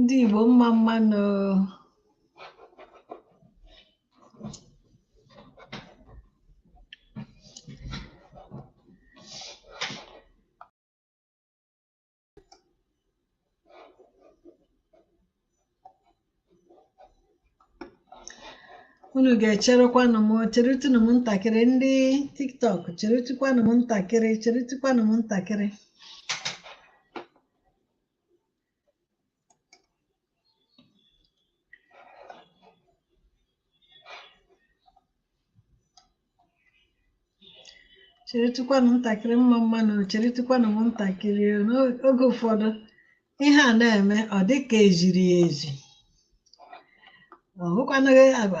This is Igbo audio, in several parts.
Ndị Igbo mma mma nụ. unu ga-echerekwanụ m cheretụnụ m ntakịrị ndị tiktok cheretụkwanụ m ntakịrị cheretụkwanụ m ntakịrị cheretụkwanụ m ntakịrị mma mma nụ cheretụkwanụ m ntakịrị o. n'oge ụfọdụ ihe a na-eme ọ dị ka e ziri ya ezi ọ wụkwanụghị agwa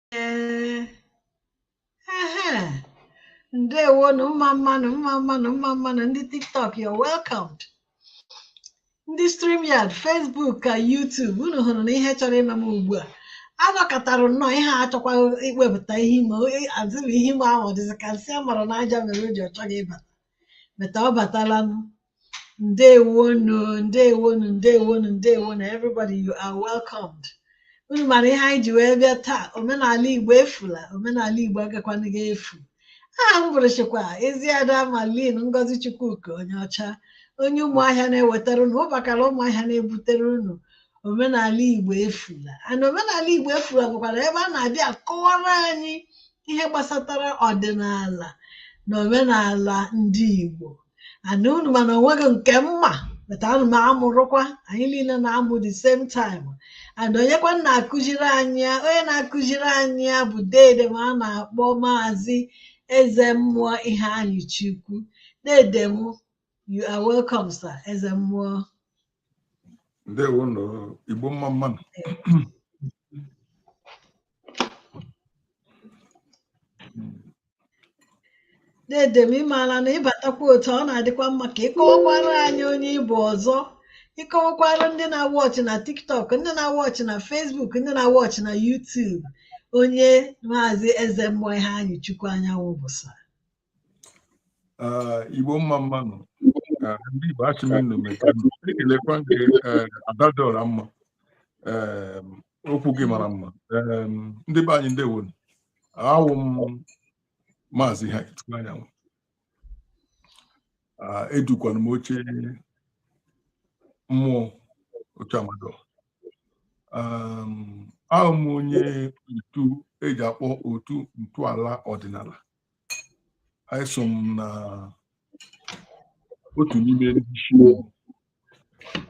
ndewonụ mma mma nụ mma mma nụ mma mma nụ ndị tiktok you're welcomed ndị StreamYard Facebook ka YouTube unu hụrụ na ihe chọrọ ime m ugbu a anọkatara nnọọ ihe achọkwa iwepụta ihu m as in ihu m ahụ dịzị ka nsị a mara n'aja mere o ji ọ chọghị ịbata but ọ batalanụ ndewonu ndewonu ndewonu ndewonu everybody you are welcomed unu mara ihe anyị ji wee bịa taa omenala igbo efula omenala igbo agakwanaghị efu aha m bụrụchikwa eziada malin ngozi chukwuka onyeọcha onye ụmụahịa na-ewetara unu ụbakala ụmụahịa na-ebutere unu omenala igbo efula and omenala igbo efula bụkwara ebe a na-abịa akọwara anyị ihe gbasatara ọdịnala na omenala ndị igbo and unu ma na onweghị nke m ma but ana m amụrụkwa anyị niile na-amụ the same time and onyekwa na-akụziri anyị ya onye na-akụziri anyị ya bụ dede m a na-akpọ maazị eze mmụọ iheanyịchukwu dede m you are welcome sir eze mmụọ ndewonụ igbo mma mma nụ dede m ịmaala na ịbatakwa otu a ọ na-adịkwa mma ka ịkọwakwara anyị onye ị bụ ọzọ ịkọwakwara ndị na-watch na tiktok ndị na-watch na facebook ndị na-watch na youtube onye maazị eze mmụọ iheanyịchukwu anyanwụ bụ sir Ah, Igbo mma mma nụ Ah, ndị Igbo asị m unu mekanụ ekelekwa m gị eh, Ada dị ọra mma Em, okwu gị mara mma Em, ndị be anyị ndewonụ awụ m maazị Iheanyịchukwu anyanwụ Ah, edukwana m oche mmụọ oche mmadụ Em, awụ m onye otu e ji akpọ otu ntọala ọdịnala anyị so m na otu n'ime ndị isi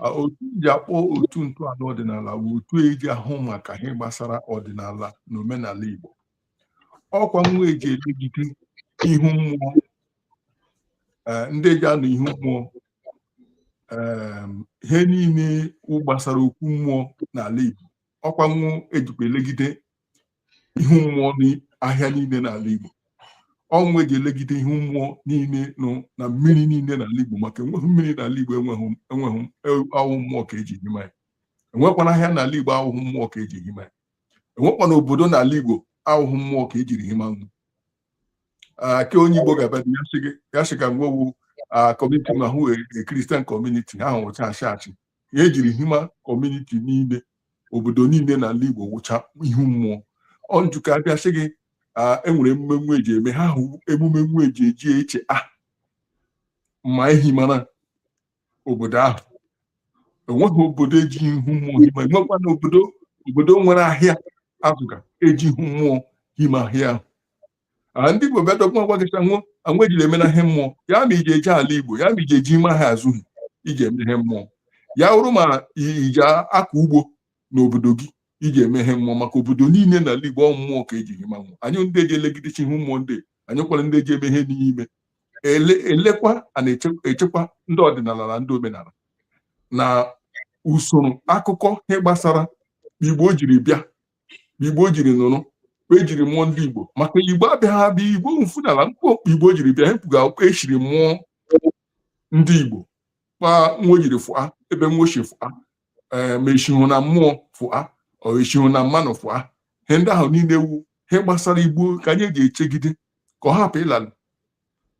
A- otu eji akpọ otu ntọala ọdịnala wụ otu eji ahụ maka ihe gbasara ọdịnala na omenala Igbo ọkwa nwa eji elegide ihu mmụọ eh, ndị eji anụ ihu mmụọ em, ihe niile gbasara okwu mmụọ n'ala Igbo ọkwa nwa ejikwa elegide ihu mmụọ n'ahịa niile n'ala Igbo ọ nwa eji elegide ihu mmụọ niile nụ na mmiri niile n'ala Igbo maka enweghị mmiri n'ala Igbo enweghị enweghị e, awụghị mmụọ ka eji hima ya enwekwana ahịa n'ala Igbo awụghị mmụọ ka eji hima ya enwekwana obodo n'ala Igbo awụghị mmụọ ka ejiri hima nwụ nke onye Igbo ga-abịa ya sị gị ya sị ka nwa wụ community ma wụ e, e, Christian community ha wụcha ashị ashị ya ejiri hima community niile obodo niile n'ala Igbo wụcha ihu mmụọ onye ụka abịa sị gị enwere emume nwa eji eme ha wụ emume nwa eji eji echeta ma ehimara obodo ahụ enweghị obodo eji ihu mmụọ hima enwekwana obodo obodo nwere ahịa azụga eji ihu mmụọ hima ahịa ahụ a ndị Igbo bịa dọkwa gwa gị sị anwụ anwụ ejila eme na ihe mmụọ ya ma iji eje ala Igbo ya ma iji eji ime ha awụghị iji eme ihe mmụọ ya wụrụ ma i- iji akọ ugbo n'obodo gị iji eme ihe mmụọ maka obodo niile n'ala Igbo ọ mmụọ ka eji hima nwụ anyị ndị eji elegidechi ihu mmụọ ndị anyị kwara ndị eji eme ihe n'ime ele elekwa a na-echekwa ndị ọdịnala na ndị omenala na usoro akụkọ ihe gbasara Igbo jiri bịa igbo jiri nụrụ kpa ejiri mụọ ndị igbo maka igbo abịaghị abịa igbo mfụnala kpa kpa igbo jiri bịa hepụga akwụkwọ eshiri mụọ ndị igbo ma nwa jiri fụa ebe nwa eshi fụa eh, ma eshihụ na mmụọ fụa ọ eshihụ na mmanụ fụa ihe ndị ahụ niile wụ ihe gbasara igbo ka anyị ji echegide ka ọ hapụ ịlalụ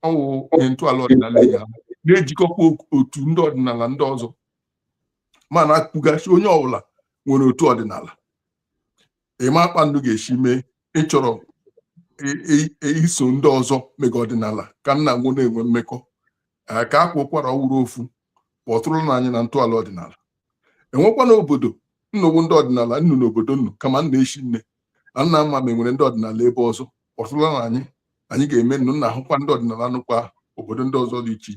ọ wụ ihe ntọala ọdịnala ya na-ejikọkwa otu ndị ọdịnala ndị ọzọ mana akwugasị onye ọbụla nwere otu ọdịnala ịma kpa nnu ga-eshi mee ịchọrọ iso ndị ọzọ mega ọdịnala ka nna nwụ na-enwe mmekọ ka akwa ụkwara ọ wụrụ ofu kpọtụrụnụ anyị na ntọala ọdịnala enwekwana obodo nnu wụ ndị ọdịnala nụ n'obodo nnu kama nna echi nne na nna mma ma enwere ndị ọdịnala ebe ọzọ kpọtụrụnụ anyị anyị ga-eme nnu nna ahụkwa ndị ọdịnala nụkwa obodo ndị ọzọ dị iche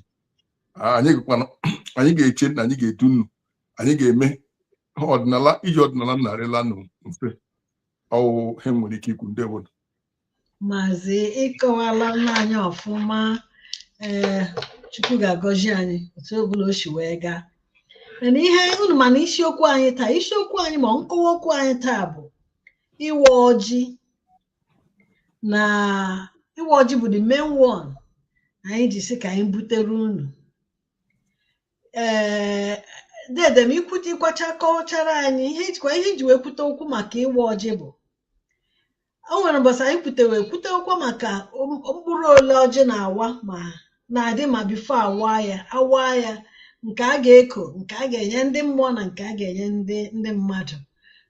anyị gụkwana anyị ga-eche na anyị ga-edu nnu anyị ga-eme ọdịnala iji ọdịnala narịla nnu mfe ọ wụ ihe nwere ike ikwu ndị obodo maazị ị kọwaala nna anyị ọfụma ee chukwu ga-agọzi anyị otu ọbụla o si wee gaa mana ihe unu ma na isiokwu anyị taa isiokwu anyị ma nkọwa okwu anyị taa bụ ịwa ọjị na ịwa ọjị bụ the main one anyị ji sị ka anyị butere unu ee dede m ikwute ịkọwacha kọchara anyị ihe ijikwa ihe iji wee kwute okwu maka ịwa ọjị bụ o nwere mbọsị anyị kwutewe kwute okwu maka mkpụrụ ole ọjị na-awa ma na-adị ma before a waa ya a waa ya nke a ga-eko nke a ga-enye ndị mmụọ na nke a ga-enye ndị ndị mmadụ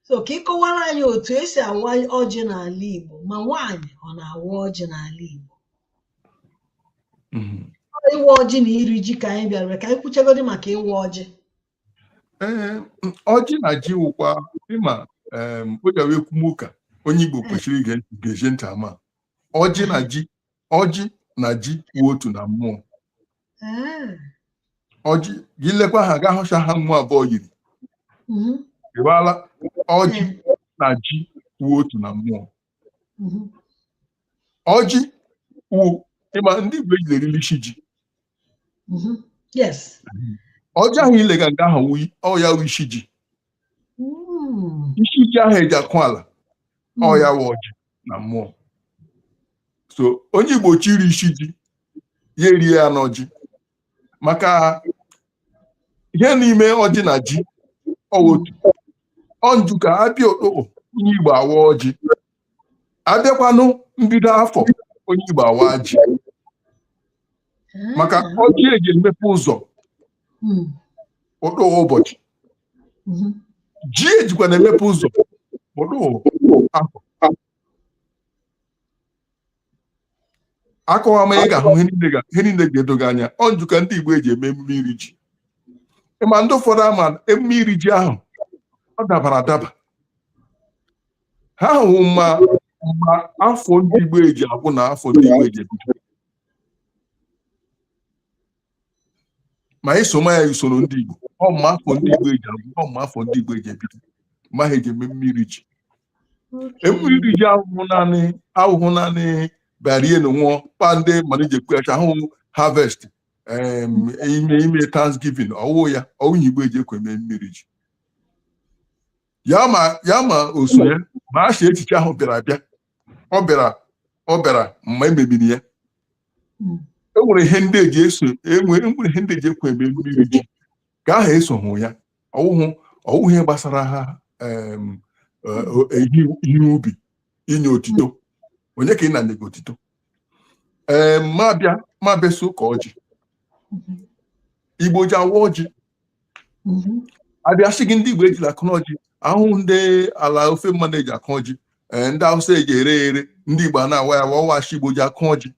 so ka ị kọwara anyị otu e si awa ọjị n'ala Igbo ma nwaanyị ọ na-awa ọjị n'ala Igbo mhm. ịwa ọjị na iri ji ka anyị bịara ka anyị kwuchagodi maka ịwa ọjị ee ọjị na ji wụkwa ịma ọ ya wụ e kwuma ụka onye Igbo kwesịrị ige ntị ama ọjị na ji ọjị na ji wụ otu na mmụọ Ah. ọjị gị lekwa ha gaa hụcha ha mmụọ abụọ yiri Mhm. ịgbala ọjị na ji wụ otu na mmụọ Mhm. ọjị wụ ị ma ndị igbo eji erili isi ji Mhm. Yes. ọjị ahụ ị lega nga ahụ wụ- ọ ya wụ isi ji hmm. isi ji ahụ eji akụ ala ọ hmm. ya wụ ọjị na mmụọ so onye Igbo chiri isi ji ya erie ya n'ọjị maka ihe n'ime ọjị na ji ọ wụ otu ọnju ka a bịa okpokpo onye Igbo awa ọjị a bịakwanụ mbido afọ onye Igbo awa ji maka ah. ọjị eji emepe ụzọ hmm. ọdụghị ụbọchị mhm. ji ejikwa na-emepe ụzọ ọdụghị afọ a kọwama ị ga-ahụ ihe niile ga-edo gị anya ọ njụ ka ndị Igbo eji eme emume iri ji ị ma ndị ụfọdụ ama emume iri ji ahụ ọ dabara adaba ha hụ ma afọ ndị Igbo eji agwụ na afọ ndị Igbo eji ebido ma anyị soma ya usoro ndị Igbo ọ ma afọ ndị Igbo eji agwụ ọ ma afọ ndị Igbo eji ebido ma ha eji eme emume iri ji emume iri ji awụhụ naanị awụhụ naanị bịa rie na ṅụọ kpa ndị mana eji ekwu acha awụhụ harvest ime ime thanksgiving ọ wụ ya wụ ihe Igbo eji ekwe eme emume iri ji ya ma ya ma oso ya ma a si echiche ahụ bịara abịa ọ bịara ọ bịara mgbe e mebiri ya hmm. e nwere ihe ndị eji eso e nwere ihe ndị eji ekwe eme emume iri ji ka ha esoghị ya ọ wụhụ ọ wụhụ ihe gbasara ha eh, eh, ihe ubi inye otito onye ka ị na-enye gị otito ee ma bịa ma abịa sị ụka ọjị igbo ji awa ọjị abịa sị gị ndị igbo ejila akụna ọjị akụ ndị ala ofe mmanụ eji akụ ọjị ee ndị awụsa eji ere ere ndị igbo a na-awa ya awa ọ wụ ashị igbo ji akụ ọjị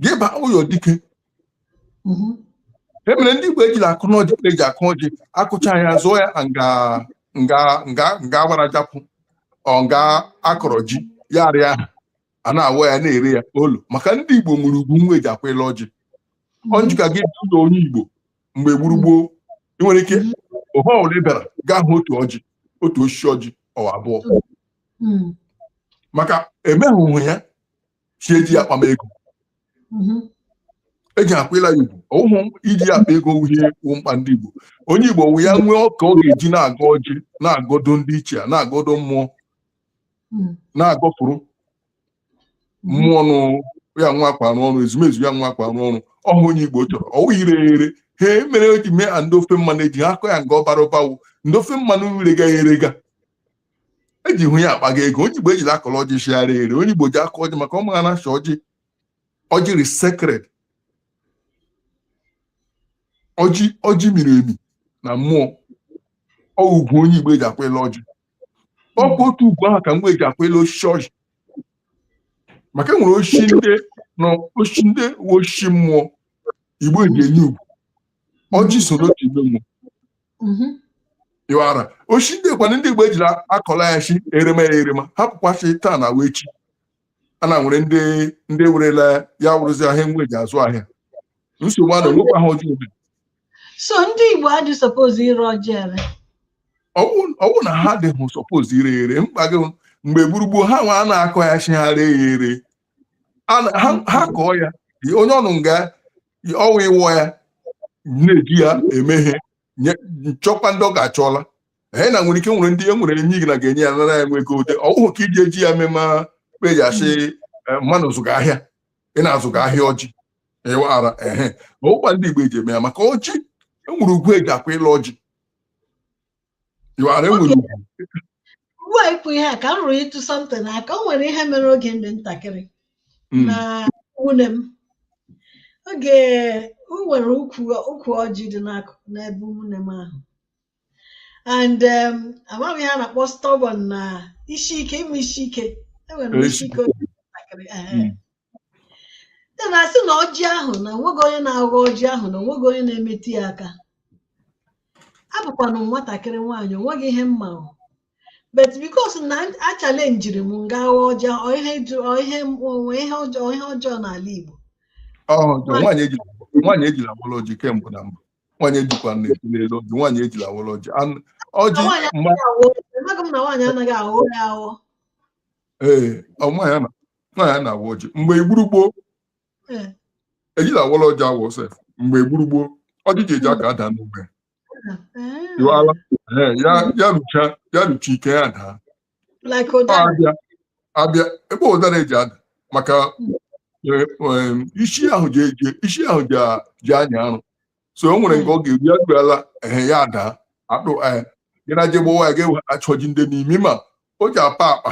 gị baa ụyọ dike mhm. ihe mere ndị Igbo ejila akụna ọjị eji akụ ọjị akụcha ya zụọ ya nga nga nga nga gbara japụ ọ nga akọrọ ji ya arịa ahụ a na-awa ya na-ere ya olu maka ndị Igbo nwere ugwu nwa eji akwaịla ọjị ọ mhm. njụka gị ụyọ onye Igbo mgbe gboo gboo ị nwere ike mhm. ohe ọbụla ị bịara gaa hụ otu ọjị otu osisi ọjị ọ wụ abụọ hmm. maka emeghị ya shi eji ya akpama ego eji akwaịla ya ugwu ọ wụhụ iji ya akpa ego wụ ihe wụ mkpa ndị Igbo onye Igbo wụ ya nwee ọka ọ ga-eji na-agọ ọjị na-agọdo ndị ichie na-agọdo mmụọ na-agọpụrụ mmụọ nụ ya nwa akwa arụ ọrụ ezumezu ya nwa akwa arụ ọrụ ọhụ onye Igbo chọrọ ọ wụ ire ere ihe mere o ji mee a ndị ofe mmanụ eji akọ ya nga ọ bara ụba wụ ndị ofe mmanụ rega ya erega ejihụ ya akpaga ego onye igbo ejila akụla ọjị shi e ree ere onye igbo ji akọ ọjị maka ọ mara na shi ọjị ọjị rị sacred ọjị ọjị miri emi na mmụọ ọ wụ ugwu onye igbo eji akwaịla ọjị ọ bụ otu ugwu ahụ ka igbo eji akwaịla osisi ọjị maka e nwere osisi ndị na osisi ndị wụ osisi mmụọ igbo eji enye ugwu ọjị so n'otu ime mmụọ mm-hmm. ị wara shi ndị kwanụ ndị Igbo ejila akọla ya shi erema ya erema hapụkwa shi taa na wee shi a na nwere ndị ndị werela ya wụrụzi ahịa nwa eji azụ ahịa nsogbu a na onwekwa ha ọjọọ ebe so ndị Igbo adị suppose ire ọjị ere ọ wụ na ha adịghị suppose ire ere mba gị mgbe gboo gboo ha nwa a na-akọ ya shi ha ree ya ere ha kọọ ya onye ọnụ nga ọwa ịwọ ya na-eji ya eme ihe nchọkwa ndị ọ ga-achọla anyị na nwere ike nwere ndị e nwere enyi gị na ga-enye ya nara ya nwa ego ụdị ọ wụhụ ka iji eji ya mema eji shi eh, mmanụ zụga ahịa ị na-azụga ahịa ọjị ị wara ehe ọ wụkwa ndị Igbo eji eme ya maka ọjị enwere ugwu eji akwaịla ọjị You are Okay. enwere ugwu. ugbu a ikwu ihe a ka m rụrụtụ something aka o nwere ihe mere oge m dị ntakịrị Mm. na ụmụnne m oge o nwere ukwu ukwu ọjị dị n'akụkụ n'ebe ụmụnne m ahụ and um, amaghị ihe a na-akpọ stubborn na isi ike ime isi ike enwere m isi ike oge ntakịrị ehe. Mm. ya na asị na ọjị ahụ na onweghị onye na-aghọ ọjị ahụ na onweghị onye na-emetụ ya aka abụkwanụ m nwatakịrị nwaanyị onweghị ihe m ma ahụ but because na achalenjiri m m gaa ghọọ ọjị ahụ, ọ ihe jụ- ọ ihe m- onwe ihe ọjọọ ihe ọjọọ n'ala Igbo Ọ ọjọọ. Nwaanyị ejila nwaanyị ejila wọrọ ọjị kemgbe na mbụ. Nwaanyị ejikwa na-eti n'elu ọjị. Nwaanyị ejila wọrọ ọjị. Anụ- Na Ọjị nwaanyị mma anaghị aghọ amaghị m na nwaanyị anaghị aghọ ya aghọ ee ọ nwaanyị a na- na ya na-awa ọjị mgbe igburugbo hmm. ejila awala ọjị awa sef mgbe igburugbo ọjị ji eji aka ada n'ugbe hmm. ya rucha ya rucha ike ya daa abịa ebe ụdara eji ada maka hmm. eh, eh, isi ahụ ji anya arụ so o nwere nke ọ ga-eru ya ruala ehe ya ada akpụ eh, gị na je gbawa ya ga-achọ ọjị dị n'ime ma ọjị apa akpa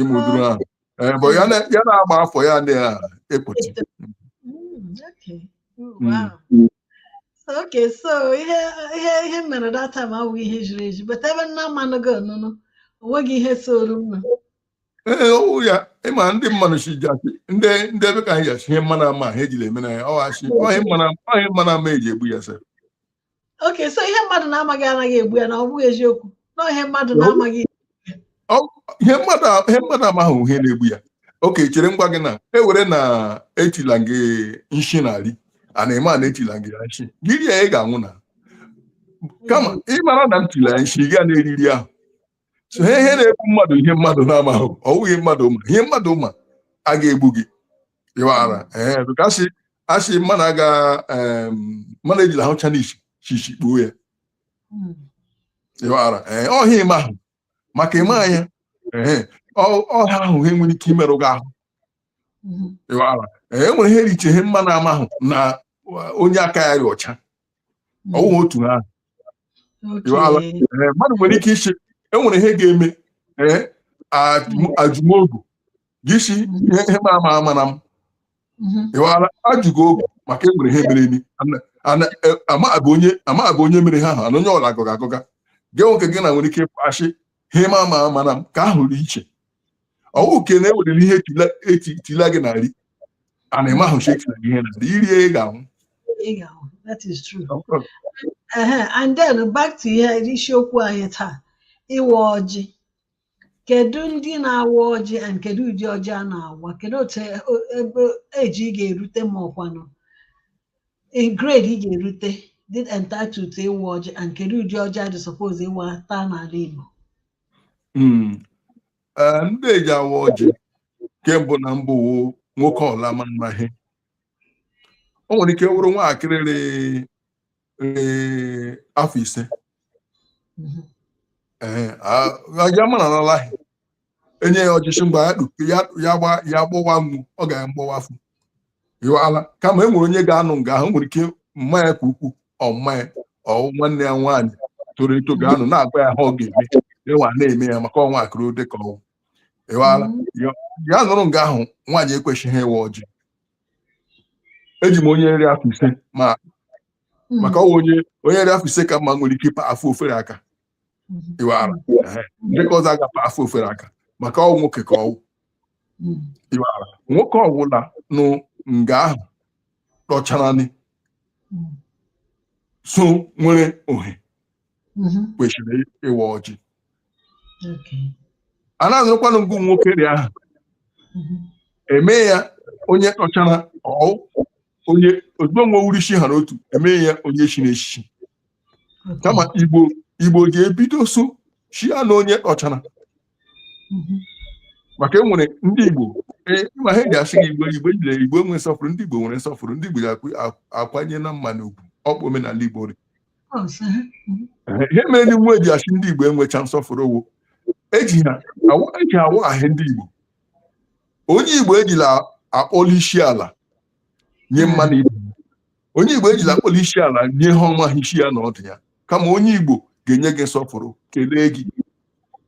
ịmụ ụdịrị ahụ Ee, bụ ya na- ya na-agba afọ ya na-ekpuchi Mm, okay. Mm, Mm. wow. So, okay, so ihe ihe ihe m mere that time awụghị ihe jiri eji but ebe nna mmanụ gị ọnụnụ o nweghị ihe soro m ee ọwụ ya ịma ndị mmanụ si ji asị ndị ndị ebe ka anyị ji asị ihe mmanụ amaha ejila eme na ya ọ asị ihe mmanụ ama- ihe mmanụ ama eji egbu ya sị okay so ihe mmadụ na-amaghị anaghị egbu ya na ọ bụghị eziokwu na ihe mmadụ na-amaghị ihe mmadụ ihe mmadụ amaghị ihe na-egbu ya okay chere m gwa gị na ewere na etila gị nshi na nri a na-eme a na-etila gị ya nshi gị rie ya ị ga-anwụ na kama ị mara na m tila ya nshi gị a na-eri nri ahụ so ihe ihe na-egbu mmadụ ihe mmadụ na-amaghị ọ bụghị mmadụ ma ihe mmadụ ma a ga-egbu gị ịwara ee kasị a sị mmadụ aga mmadụ ejila ahụcha nshi shi ishi kpuo ya hmm. ịwara ọ ihe ị maahụ maka ị ma ya ọ ihe ahụ ha nwere ike imerụ gị ahụ hmm. ịwara e nwere ihe rị iche ihe mmanụ amaahụ na onye aka ya dị ọcha ọwụghị hmm. otu ahụ eh, mmadụ nwere ike iche enwere ihe ga-eme eh, ajụ m ogu gị si hmm. ihe m amaa amana m hmm. ịwara ajụgo ogu maka enwere ihe mere ni eh, ama abụ onye mere ihe ahụ ana onye ọ la-agọga agọga gị nwoke gị na nwere ike ịkpọasị ihe m amaa amana m ka ahụ rị iche ọwụ ke na ewerere ihe etila gị na nri and ị maahụ sị etila gị ihe na nri i rie ị ga-anwụ that is true and then back to ihe isiokwu anyị taa ịwa ọjị kedu ndị na-awa ọjị and kedu ụdị ọjị a na-awa kedu otu ebe age ị ga-erute ma ọkwanụ in grade ị ga-erute dị entitled to ịwa ọjị and kedu ụdị ọjị a dị suppose ịwa taa n'ala Igbo Mm. Eh, ndị ji awa ọjị kembụ na mbụ wụ nwoke ọla ma mmaghị o nwere ike wụrụ nwaakịrị rị afọ ise Mhm. ee aja mara n'alaghị enye ya ọjị shị ngwa ya kpu- ya ya gba ya gbọwa mgbe ọ ga ya mgbọwafu ịwala kama e nwere onye ga-anọ nga ahụ nwere ike mma ya ka ukwu ọ mma ya ọ nwanne ya nwaanyị toro eto ga-anọ na-agwa ya ha ọ ga-eme ịwa na-eme ya maka ọ nwaakịrị ọ dị ka ọ wụ ịwala ya ya nọrọ nga ahụ nwaanyị ekwesịghị ịwa ọjị eji m onye rị afọ ise ma maka ọwa onye onye rị afọ ise ka mma nwere ike ịpa afọ ofere aka ịwara ndị ke ọzọ a ga-apa afọ ofere aka maka ọ wụ nwoke ka ọ wụ ịwara nwoke ọbụla nọ nga ahụ tọcharanị so nwere ohere kwesịrị ịwa ọjị a na-azụrụkwanụ nga nwoke dị ahụ eme ya onye tọchara ọ wụ onye ozugbo nwe wụrụ isi ha n'otu eme ya onye chiri echichi kama igbo igbo ga-ebido so chia na onye tọchara maka enwere ndị igbo ee, ma ha ga-asị gị igbo igbo jire igbo enwe nsọpụrụ ndị igbo nwere nsọpụrụ ndị igbo ga-akwanyere mmadụ ugwu ọ bụ omenala igbo dị ihe mere ndị nwa eji asị ndị igbo enwecha nsọpụrụ ọ wụ eji ha awa- eji awa ahụ ndị igbo onye igbo ejila akpọli isi ala nye mmadụ ibe onye igbo ejila akpọrọ isi ala nye ihe ọ maha isi ya na ọdụ ya kama onye igbo ga-enye gị nsọpụrụ kelee gị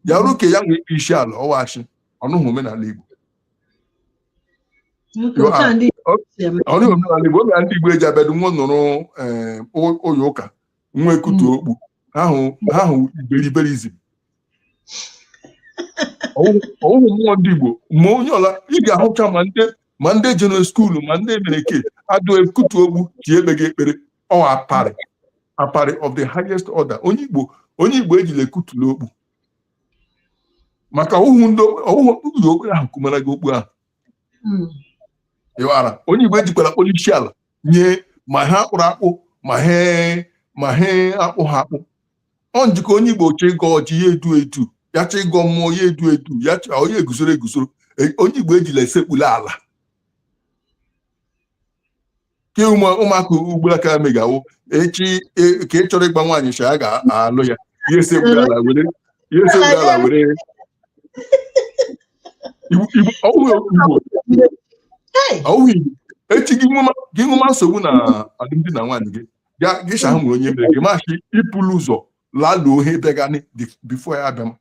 bịaruo ka ya nwee isi ala ọwachi ọ wụhụ omenala igbo ọ wụhụ omenala igbo omenala ndị igbo eji abịadụ nwa nụrụ eh, ụlọ ụka nwa ekpute okpu ha wụ iberiberizm ọ wụhụ mmụọ ndị Igbo ma onye ọla ị ga-ahụcha ma ndị ma ndị jere skuulu ma ndị emereke adụ ekputu okpu ji ekpegha ekpere ọ aparị aparị of the highest order onye Igbo onye Igbo ejila ekputula okpu maka ọwụwụ ndị ọwụwụ okpu okpu ahụ kumara gị okpu ahụ ịghara onye Igbo ejikwara akpọli ishi ala nye ma ihe a kpụrụ akpụ ma ihe ma ihe akpụha akpụ ọ nji ka onye igbo chọ ịgọ ọjị ya edu edu ya chọ ịgọ mmụọ ya edu edu ya chọ onye eguzoro eguzoro E- onye igbo ejila esekpula ala ke ụmụ- ụmụaka ugbula ka megawo echi e- ka ị chọrọ ịgwa nwaanyị sha a ga-alụ ya ya esekpula ala were ya esekpula ala were Igbo- Igbo- ọ bụghị Igbo Hey, ọwụghị Igbo echi gị nwema gị nwema nsogbu na alụmdi na nwaanyị gị gịcha ahụ nwere onye mere gị machi ịpụrụ ụzọ laluo ohe bịagani before ya abịa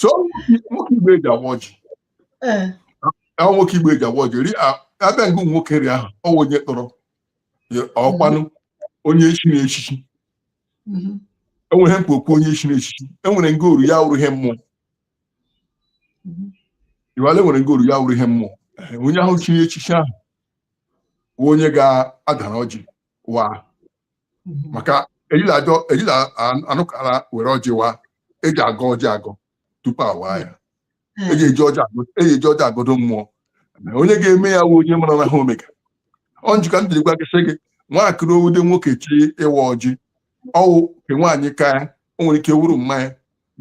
so nwoke igbo eji agọ ọjị ahụ nwoke igbo eji agọ ọjị ri abịanụ nwoke ri ahụ ọ wụ onye tọrọ ọkwanụ onye echiri echichi enwere mkpa okwu onye echiri echichi enwere nga oru ya wụrụ ihe mmụọ iwale nwere nga oru ya wụrụ ihe mmụọ onye ahụ chiri echichi ahụ onye ga-adara ọjị wa mhm. maka ejila ajọ ejila anụkara were ọjị wa eji agọ ọjị agọ tupu awa ya mhm. eji eji ọjị agọdo mmụọ onye ga-eme ya wụ onye mara na ha o mega ọ nji ka ndị gwa gị sị gị nwaakịrị ọ wụde nwoke chọ ịwa ọjị ọ wụ nke nwaanyị ka ya o nwere ike wụrụ mma ya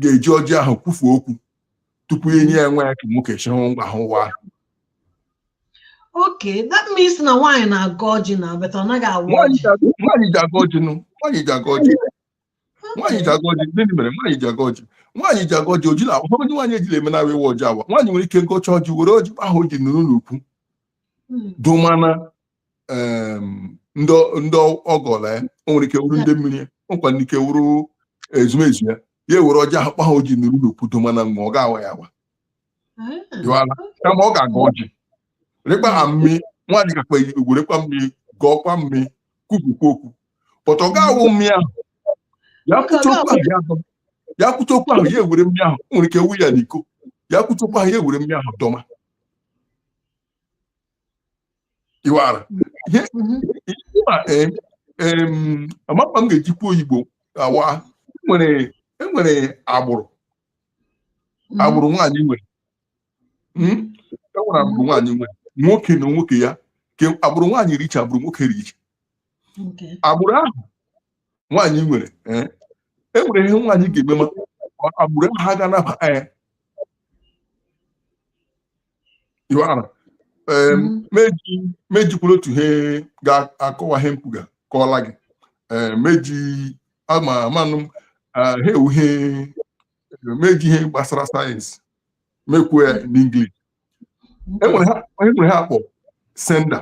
ga-eji ọjị ahụ kwufuo okwu tupu enye ya nwa ya ka nwoke chịrị ngwa ha ụwa okay that means na nwaanyị na-agọ ọjị na but ọ naghị awa nwaanyị ọjị ji- nwaanyị ji agọ ọjị nụ nwaanyị ji agọ ọjị nwaanyị ji agọ ọjị gịnị mere nwaanyị ji agọ ọjị nwaanyị ji agọ ọjị oji na ụfọdụ ndị nwaanyị ejila eme na ịwa ọjị awa nwaanyị nwere ike gọcha ọjị were ọjị ahụ o ji nụrụ n'okwu Mm. dọma na em, ndị ndị ọgọla ya o nwere ike wụrụ ndị mmiri ya o nwekwanụ ike wụrụ ezumezu ya ya ewere ọjị ahụ kpa ha oji nuru n'okwu dọma na nwa ọ ga-awa ya awa jụwala kama ọ ga-agọ ọjị rekpa ha mmiri nwaanyị kakpa werekwa mmiri gọọkwa mmiri kwupụkwa okwu but ọ ga-awụ mmiri ahụ ya kwụcha okwu ahụ ya dọma ya kwụcha okwu ahụ ya ewere mmiri ahụ o nwere ike wụ ya n'iko ya kwụcha okwu ahụ ya ewere mmiri ahụ dọma iwara ama kpa m ga-ejikwa oyigbo awa enwere agbụrụ mm-hmm. agbụrụ nwaanyị nwere enwere hmm? agbụrụ mm-hmm. nwaanyị nwere nwoke na nwoke ya ke agbụrụ nwaanyị rị iche agbụrụ nwoke rị iche agbụrụ ahụ nwaanyị nwere eh, e nwere ihe nwaanyị ga-eme ma agbụrụ ahụ ha ga-anaba ya eh, m ejikwuru otu ihe ga-akọwa ihe m kwuga kọọla gị m eji ama amanụ ha ewu ihe m eji ihe gbasara science m ekwuo ya n'English enwere ihe a kpọ sender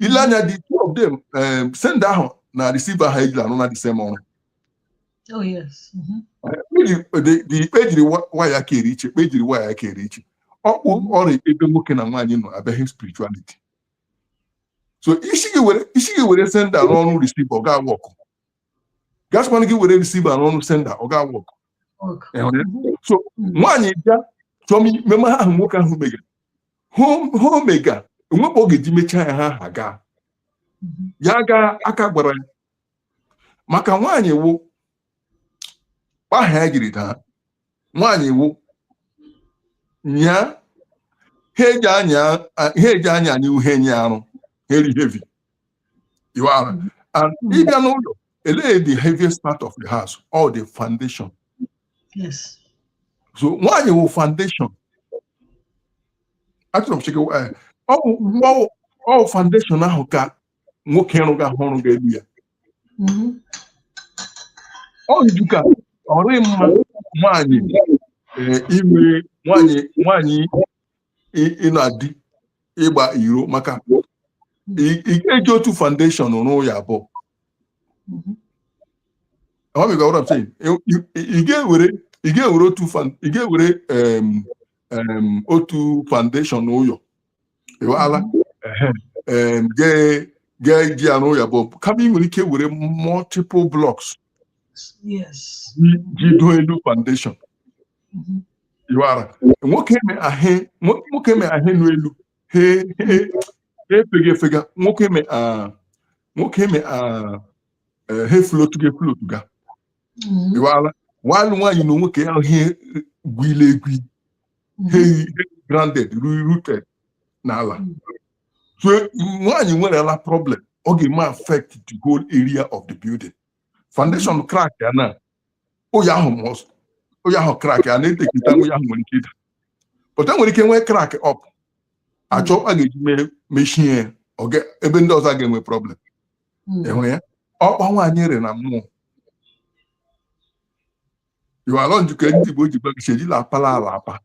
ile anya the two of them um, sender ahụ na receiver ahụ ejila arụ the same ọrụ Oh, yes. Mhm. Ejiri- the- the kpa e jiri wa- waya ha rị iche kpa e jiri waya ha rị iche ọ kpa ọ rị ebe nwoke na nwaanyị nọ abịaghị spirituality so ị sị gị were ị sị gị were sender arụ ọrụ receiver ọ ga-awụ ọkụ gasịkwana gị were receiver arụ ọrụ sender ọ ga-awụ ọkụ Okay. Ị hụrụ ya? so nwaanyị bịa chọọ ime ma ahụ nwoke ahụ megara he o mega enwekwa ọ ga-eji mechaa ya ha ha gaa ya gaa aka gbara ya maka nwaanyị wụ kpa aha ya jiri daa nwaanyị wụ nya he eji anyị anyị he nyị arụ he rị heavy you are mm-hmm. and ị bịa n'ụlọ elee the heaviest part of the house all the foundation yes so nwaanyị wụ foundation achọrọ m chike eh, ọ foundation ahụ ka nwoke rụga ahụ ọ rụga elu ya mm-hmm. ọ njika ọ rị mma nwaanyị eh, ime nwaanyị nwaanyị ịnọ na di ịgba iro maka ị ga-eji otu foundation rụọ ụyọ abụọ ị ga-ewere otu ị ga-ewere otu foundation n'ụyọ ị haala ga-eji ya arụ ụyọ abụọ kama ị nwere ike were multiple blocks jido elu foundation nwoke me ahụ nwoke me he nọ elu he he efega efega nwoke me nwoke me he floatuga efloatu ga iwara nwanụ nwaanyị na nwoke ahụ he gwile egwi he grounded rooted n'ala so nwaanyị nwerela problem ọ ga-eme affect the whole area of the building foundation crack ya na ụyọ ahụ must ụyọ ahụ crack a na-etekita ụyọ ahụ nwere ike ịda but e nwere ike nwee crack up achọọ kpa a ga-eji mee mechie ya ọ ga- ebe ndị ọzọ a ga-enwe problem Mm. ị hụla ọ kpa nwaanyị rị na mmụọ ị hụla ọ njika ndị Igbo ji gbagichi ejila apala ala apa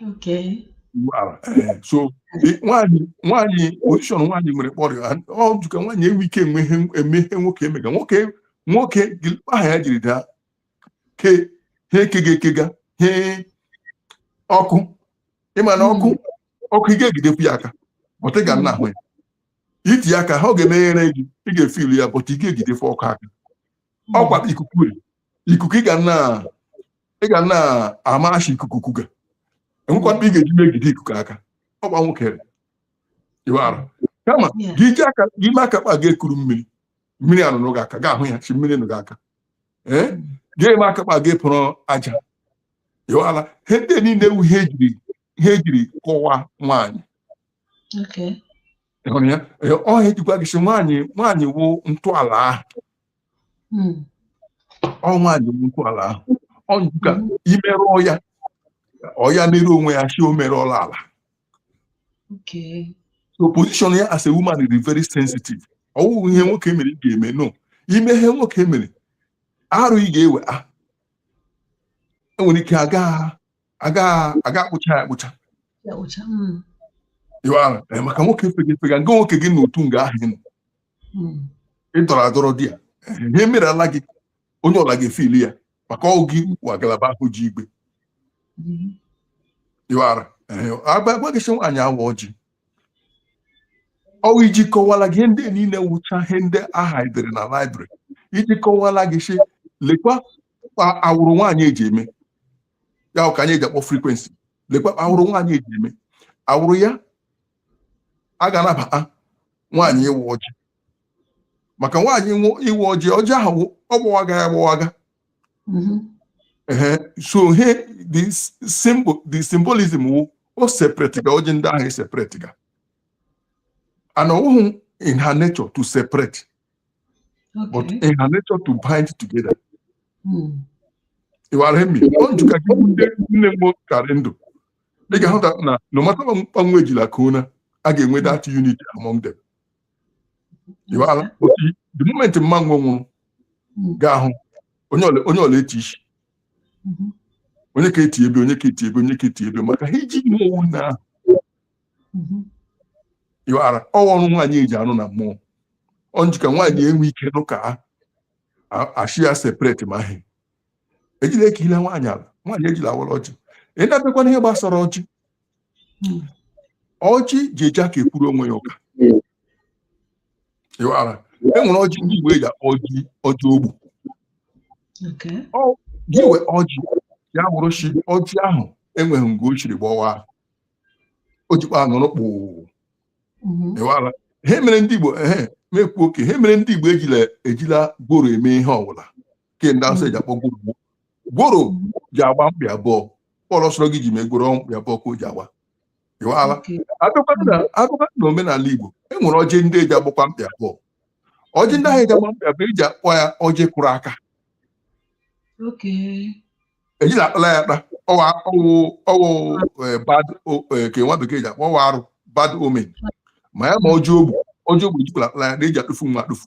Okay. Wow. Eh, so eh, nwaanyị nwaanyị position nwaanyị nwere kpọrọ ha ọ jụka nwaanyị enwe ike enwe ihe eme ihe nwoke emega nwoke nwoke kpa aha ya jiri daa ke he kega ekega he ọkụ ịma na ọkụ ọkụ ị ga-egidefu ya aka but ị ga na-ahụ ya i tiye aka ha ọ ga-emeghere gị ị ga-efilu ya but ị ga-egidefu ọkụ aka ọkwa kpa ikuku rị ikuku ị ga na ị ga na-ama shi ikuku kuga enwekwa ndị ị ga-eji megide ikuku aka ọkwa nwoke iwara kama gị ji aka gị ime aka kpa ga-ekuru mmiri mmiri anọnụ gị aka ga-ahụ ya shi mmiri nọ gị aka ee gị ime aka kpa ga-ekporo aja iwara ihe ndị niile a wụ ihe ejiri ihe ejiri kọwaa nwaanyị hụrụ ya ọ ihe eji gwa gị sị nwaanyị nwaanyị wụ ntọala ahụ hmm. ọ nwaanyị nnukwu ala ahụ ọnụ ka hmm. i merụọ ya ọ ya merụọ onwe ya shi o merụọla ala so position ya as a woman is very sensitive ọwụghị ihe nwoke mere ị ga-eme no ime ihe nwoke mere arụ ị ga-ewe a ah, enwere ike aga aga aga akpucha ya akpucha maka nwoke fega efega nga nwoke gị n'otu nga ahụ ị dọrọ adọrọ di ya ihe mere ala gị onye ọla ga-efeel ya maka ọ gị wụ agalaba ahụ ji igwe ịwara agwa gị sị nwaanyị awa ọjị ọwụ iji kọwala gị ihe ndị niile wụcha ihe ndị ahụ edere na library iji kọwala gị sị lekwa awụrụ nwaanyị eji eme ya ka anyị eji akpọ frequency lekwa awụrụ nwaanyị eji eme awụrụ ya a ga-anabata nwaanyị ịwa ọjị maka nwaanyị ịwa ọjị ọjị ahụ ọ gbawaga ya agbawaga mm-hmm. so he the symbol the symbolism wụ o separate ga ọjị ndị ahụ eseparate ga and ọwụhụ in her nature to separate okay. but in her nature to bind together hmm. ịwara emi ọ njụka gị ndị nne m ka rị ndụ ị ga-ahụta na no matter kpa unu ejila ka una a ga-enwe that unity among them ịghọala otu the moment mama unu nwụrụ ga-ahụ onye ọla onye ọla eti isi onye ka eti ebe onye ka eti ebe onye ka eti ebe maka ihe ji unu ọ wụ nne ahụ ịghọala ọ wụ ọrụ nwaanyị eji arụ na mmụọ ọ njika nwaanyị enwe ike nọ ka a- a- a shị ya separate ma ahụ ejila eke ile nwaanyị ala nwaanyị ejila awara ọjị ị na-abịakwa n'ihe gbasara ọjị ọjị ji eji aka ekwuru onwe ya ụka ịwara e nwere ọjị ndị igbo eji akpọ ọjị ọjị ogbu Okay. gị wee ọjị ya bụrụ shi ọjị ahụ enweghị nga o shiri gbawa o jikwa nọrọ kpụụ Mhm. ịwara ihe mere ndị igbo ehe mekwu okay ihe mere ndị igbo ejila ejila gworo eme ihe ọbụla ke ndị awụsa ji akpọ gworo gworo. gworo ji agba mkpị abụọ ihe ọla sọrọ gị ji mee gworo mkpị abụọ ka o ji agba ịwaala Okay. abịakwa na abịakwa na omenala igbo e nwere ọjị ndị eji agbakwa mkpị abụọ ọjị ndị ahụ eji agba mkpị abụọ eji akpọ ya ọjị kụrụ aka Okay. ejila akpala ya akpa ọwa ọwụ ọwụ eh, bad o- eh, ka nwa bekee ji akpọ ọwa arụ bad omen ma ya ma ọjị ogbu ọjị ogbu ejikwala akpala ya na eji atụfu wa atụfu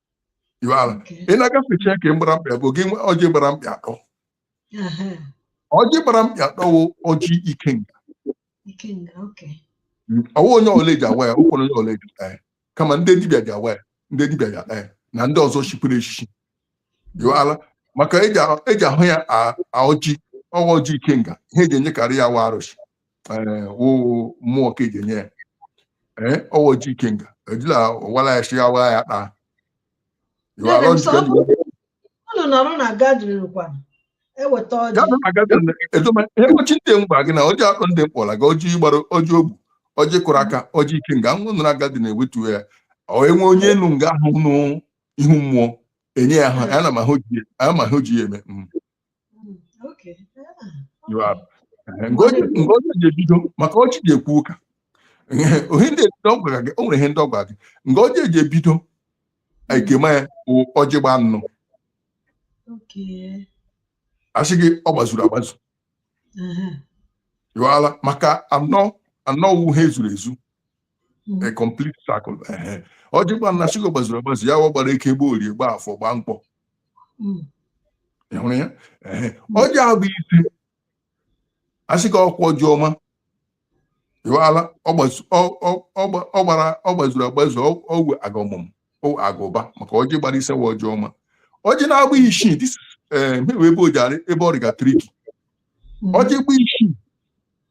ị na-agafecha ke gbara mkpị abụọ gị ọjị gbara mkpị atọ ọjị gbara mkpị atọ wụ ọjị ikenga ọwụ onye ọla ji awa ya ọwụhụ onye ọla ji ata ya kama ndị dibịa ji awa ya ndị dibịa ji ata ya na ndị ọzọ chiri echichi ịwaala maka eji ahụ ya ọjị ọwa ọjị ikenga ihe eji enyekarị ya wa arụsị wụ mmụọ ka eji enye ya ọwa ọjị ikenga ejila awala ya shị awa ya kpaa unu nọrọ na gathering kwana eweta ọjị ewechi ndị mgba gị na ọjị akpọ ndị m kpọla ga ọjị gworo ọjị ogbu ọjị kụrụ aka ọjị ikenga unu nọrọ gathering eweta ya o nwee onye nọ nga ahụ nwe ihu mmụọ enye ya ọ na-ama ihe o ji ya eme nga ọjị ji ebido maka ọjị ji ekwu ụka ohe ndị ebido ọ gwara gị o nwere ihe ndị ọ gwara gị nga ọjị ji ebido a na-ekema ya ọjị gbaa anọ asị gị ọ gbazuru agbazu ịwaala maka anọ anọ wụ ihe zuru ezu a mhm. complete circle ọjị gbaa anọ shị gị ọ gbazuru agbazu ya gbara eke gbaa orie gbaa afọ gbaa nkwọ mhm. hụrụ ya ọjị mhm. agba ise asị gị ọkwa ọjị ọma ịwaala ọ gbazuru agbazu ọwụ a ga-amụ a ga-aba maka ọjị gbara ise wa ọjị ọma ọjị na-agba isii wụ ebe o ji arị ebe ọ rịga tricky ọjị gba isii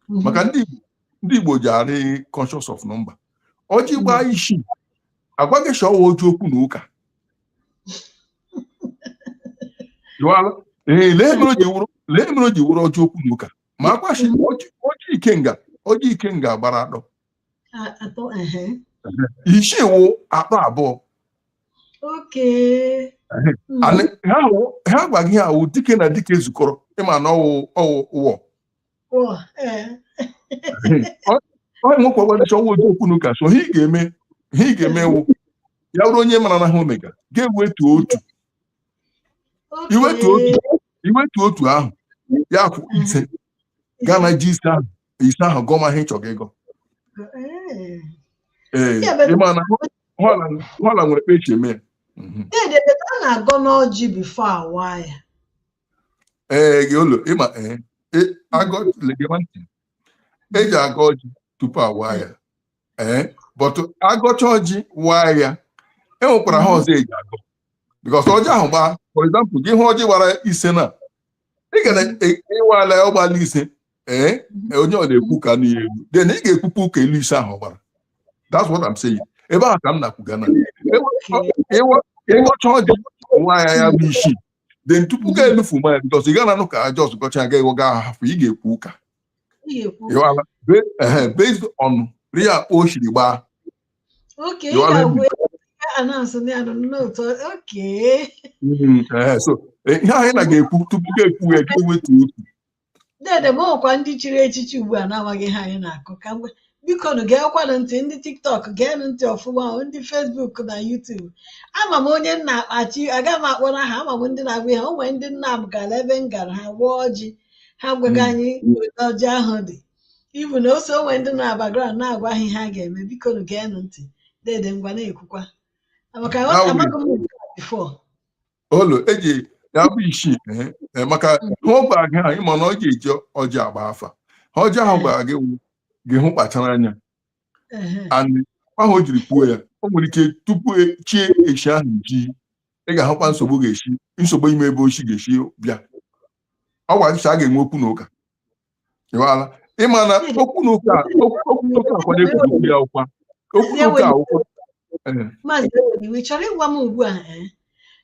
mhm. maka ndị Igbo ndị Igbo ji arị conscious of number ọjị mhm. gbaa isii agwa gị shị ọwa ọjị okwu na ụka ee ihe mere o ji wụrụ ọjị okwu na ụka ma agwa shị ọjị ikenga ọjị ikenga gbara atọ isii wụ atọ abụọ ha gwa gị ọwụ dike na dike zukọrọ ịma na ọwụ ọwụ ụwọ Oh, eh. onye nwekwa ọ gbaa isii ọ wụ ọjị okwu n'ụka so ihe ị ga-eme ihe ị ga-eme wụ ya bụrụ onye mara na ihe o mega ga-ewetu otu Okay. iwetu otu iwetu otu ahụ ya kwụ ise gaa na ji ise ahụ ise ahụ gọma ihe ị chọrọ ịgọ Eh. ee Ya bụ- ịma na họla họla nwere kpa e si eme ya Mhm. Dede, dede, a na-agọnụ ọjị before a waa ya. ee gị ụlọ ịma ee e- agọ le gema ntị eji agọ ọjị tupu a waa ya ee but a gọcha ọjị waa ya e nwekwara ihe ọzọ eji agọ because ọjị ahụ gbaa for example gị hụ ọjị gbara ise na ị waala ya ọ gbala ise ee e, onye ọ na-ekwu ka nụ ya elu then ị ga-ekwupụ ụka elu ise ahụ ọ gbara that's what I'm saying ebe ahụ ka m na-ekwuga na ịwa- ịwa- ị gọcha ọjị waa ya ya bụ isii then tupu mm-hmm. ga-enufu mmanya because ị gana anụ ka a just gọcha aga ị gọga ahafụ ị ga-ekwu ụka based on ria o siri gbaa so ihe anyị na ga-ekwu tupu ga-ekwu ya ga-ewetu otu dede m e nwekwa ndị chiri echichi ugbu a na-amaghị ihe anyị na-akụ ka mgbe bikonụ geekwanụ ntị ndị TikTok geenụ ntị ọfụma o, ndị Facebook na YouTube ama m onye nna akpachi aga m akpọrọ aha ama m ndị na-agba ihe o nwere ndị nna m gara ebe m gara ha gbuo ọjị ha gwaga anyị ebe ọjị ahụ dị ibu na ose o nwe ndị na background na-agwa ha ihe a ga-eme bikonụ geenụ ntị dede ngwa na-ekwukwa maka How we- amaghị m nke a before olu eji ya bụ isii ehe, eh, maka ihe ọ gwara gị ahụ ịma na ọ ga-eji ọjị agba afa ihe ọjị ahụ gwara gị wụ gị hụ kpachara anya Ehe. and why o jiri kwuo ya o nwere ike tupu e- chi echi ahụ ji ị ga-ahụkwa nsogbu ga-esi nsogbu ị ma ebe o si ga-esi bịa ọ gwara gị sị a ga-enwe okwu na ụka ị ghọtala ịma na okwu na ụka okwu na ụka ọkwa a na-ekwuzi ya ọkwa okwu na ụka ọkwa ee Maazị Eweliwe, ị chọrọ ịgwa m ugbu a eh,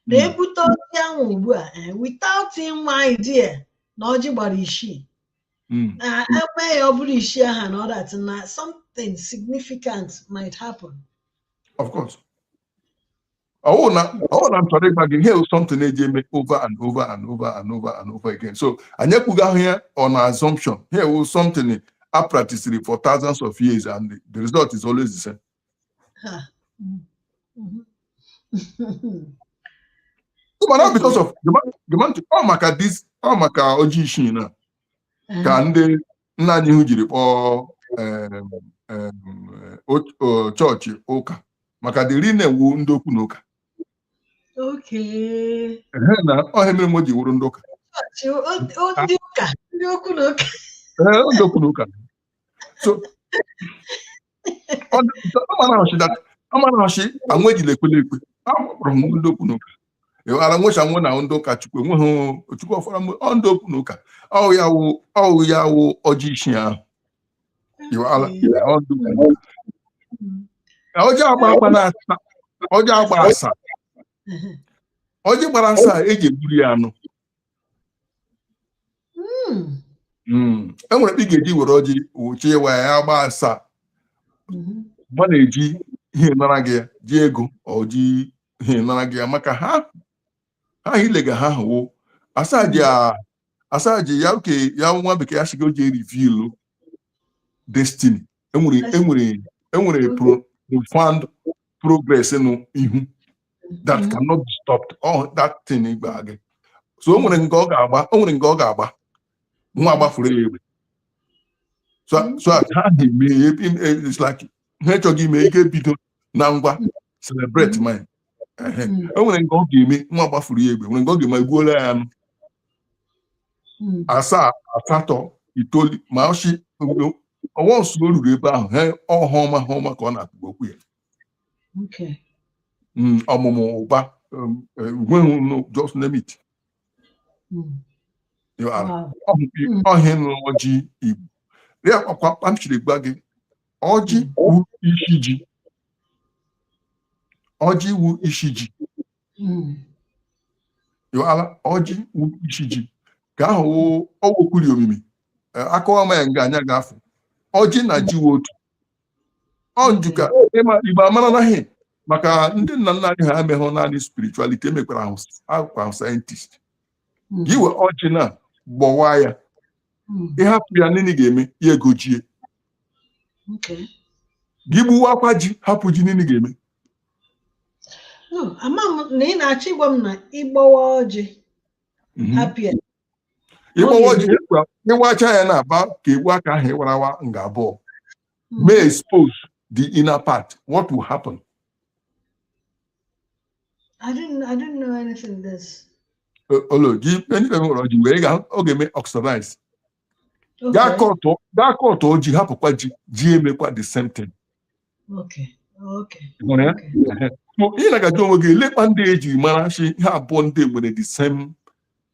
na Mm. e bute ọjị ahụ ugbu a eh, without inwe idea na ọjị gbara isii mm, na a waa ya ọ bụrụ isii aha na ọ that na something significant might happen of course ọwụ na ọwụ na m chọrọ ịgwa gị ihe a something eji eme over and over and over and over and over again so anyị ekwugahụ ya on assumption ihe a wụ something a practiced for thousands of years and the, the result is always the same Ha. Mm. Mhm. So, mana because of gema- gema ntị, ọ maka this ọ maka ọjị isii na ka ndị nna anyị ha jiri kpọọ chọọchị ụka maka ndị rị na ya wụ ndị okwu na ụka na ọ ihe mere wo ji wụrụ ndị ụka ndị okwu na ụka so amanachi anwụ ejila ekwele ekwe akpọrọ m ndị okwu n'ụka ịghara nwecha nwe na ndị ụka chukwu enweghị chukwu ọfara mgbe ọ ndị okwu n'ụka ọ wụ ya wụ ọ wụ ya wụ ọjị isii ahụ ọjị agba agba na asaa ọjị agba asaa ọjị gbara asaa e ji egburu ya anụ hmm. Hmm. e nwere ị ga-eji were ọjị wụchi ị waa ya agba asaa mm-hmm. mana e ji ihe nara gị ya ji ego ọ ji ihe nara gị ya maka ha ha ilega ha hụwo asaa ji ya oke ya nwa bekee ya shị gị ọ ji e reveal destiny enwere enwere enwere profound progress n'ihu that mm-hmm. cannot be stopped oh that thing igba gị so o nwere nke ọ ga-agba o nwere nke ọ ga-agba nwa agbafụrụ ya egbe so so ha na-eme it's like ha chọghị ime e ga-ebido na ngwa celebrate ma o nwere nke ọ ga-eme nwa gbafụrụ ya egbe nwere nke ọ ga-eme egbuola ya anụ asaa asatọ itoolu ma ọchị ọwa ọsụ o ruru ebe ahụ he ọ ihe ọma ihe ọma ka ọ na-atụgbu okwu ya ọmụmụ ụba wealth just name it ọ ihe nọ n'ọjị igbo ya kpakwa kpamchiri gba gị ọjị wu isi ji ọjị wu isi ji wu ala ọjị wu isi ji ka ahụ ọ wụ okwu ri omimi akọwaa m ya nga anya ga-afụ ọjị na ji wu otu ọ njuka ịma igbo amara naghị maka ndị nna nna anyị ha emeghụ naanị spirituality emekwara ahụ scientist mm. ị wee ọjị na gbọwa ya mm. ị hapụ ya nini ga-eme ya egojie gị gbuwaakwa ji hapụ ji nini ga-eme ama m na ị na-achọ ịgwa m na ị gbawaa ọjị mhm. hapụ ya ị gbawaa ọjị ị wachaa ya na-aba ka egbu aka ahụ ị wara awa nga abụọ mm. mee expose the inner part what will happen I didn't I didn't know anything physiology ndị be nwere ọjị wee ga ọ ga-eme oxidize. Gaa kọtụ gaa kọtụọ ji hapụkwa ji ji emekwa the same thing. Okay. Okay. Ị na ga-eji onwe gị lekwa ndị e ji mara shi ihe abụọ ndị a nwere the same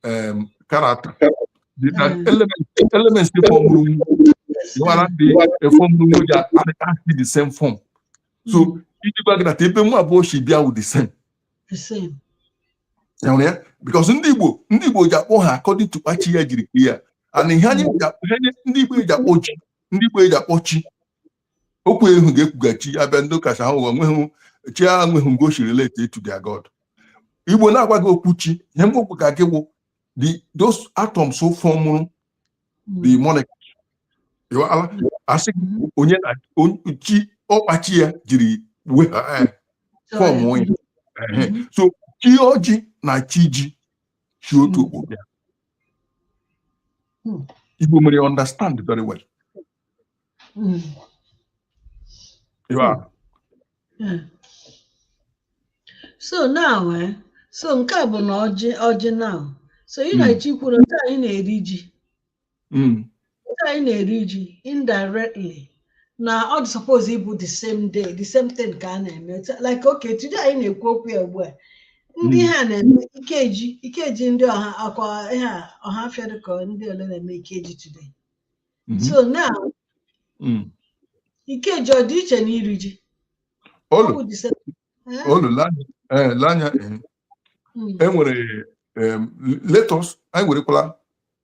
um, character. The, the mm. element, elements ndị fọmụrụ m, one day they form room, they are actually the same form. So, mm. if you back that, even more about o shi bịa wụ the same. The same. You know, because ndị Igbo ndị Igbo ji akpọ ha according to kpa chi ya jiri kee ya and ihe anyị ndị Igbo ji akpọ ji ndị Igbo ji akpọ chi okwu ahụ ga-ekwughachi a bịa ndị ụka sị ha ụwa nweghị chi a nweghị nga o shi relate to their god igbo na-agwa gị okwu chi ihe Igbo kwuga gị wụ the those atoms so fọmụrụ the hmm. molecules a sị onye na chi ọ kpa chi ya jiri fọm onye hmm. so chi ọjị na chi ji shi otu hmm. okpukpe igbo mere understand very well Mm. You are. Yeah. so now eh, so nke a bụ na ọjị ọjị now so ị Mm. na-achọ ikwu nke anyị na-eri ji Mm. nke anyị na-eri ji indirectly na ọ dị suppose ịbụ the same day the same thing ka a na-eme Otu- like okay today anyị na-ekwu okwu ya ugbu a ndị Mm. ha na-eme ikeji ikeji ndị ọ kwa ihe a, Ọhafịa dị ka ndị ole na-eme ikeji today Mhm. so now Mm. ike ji ọ dị iche na iri ji or ọ bụ the same. Eh, ị lee anya eh, lee anya eh. mm, e nwere em, let us anyị werekwala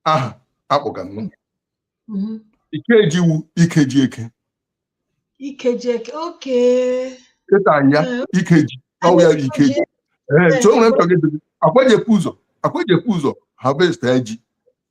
aha a kpọga nwa mhm. ike ji wụ ike ji eke ike ji eke ikekọta ya ike ji ọ wụ ya ike ji ee so o nwere mpagide ọ kwa e je-ebu ụzọ ọ kwa e je-ebu ụzọ harvest ya ji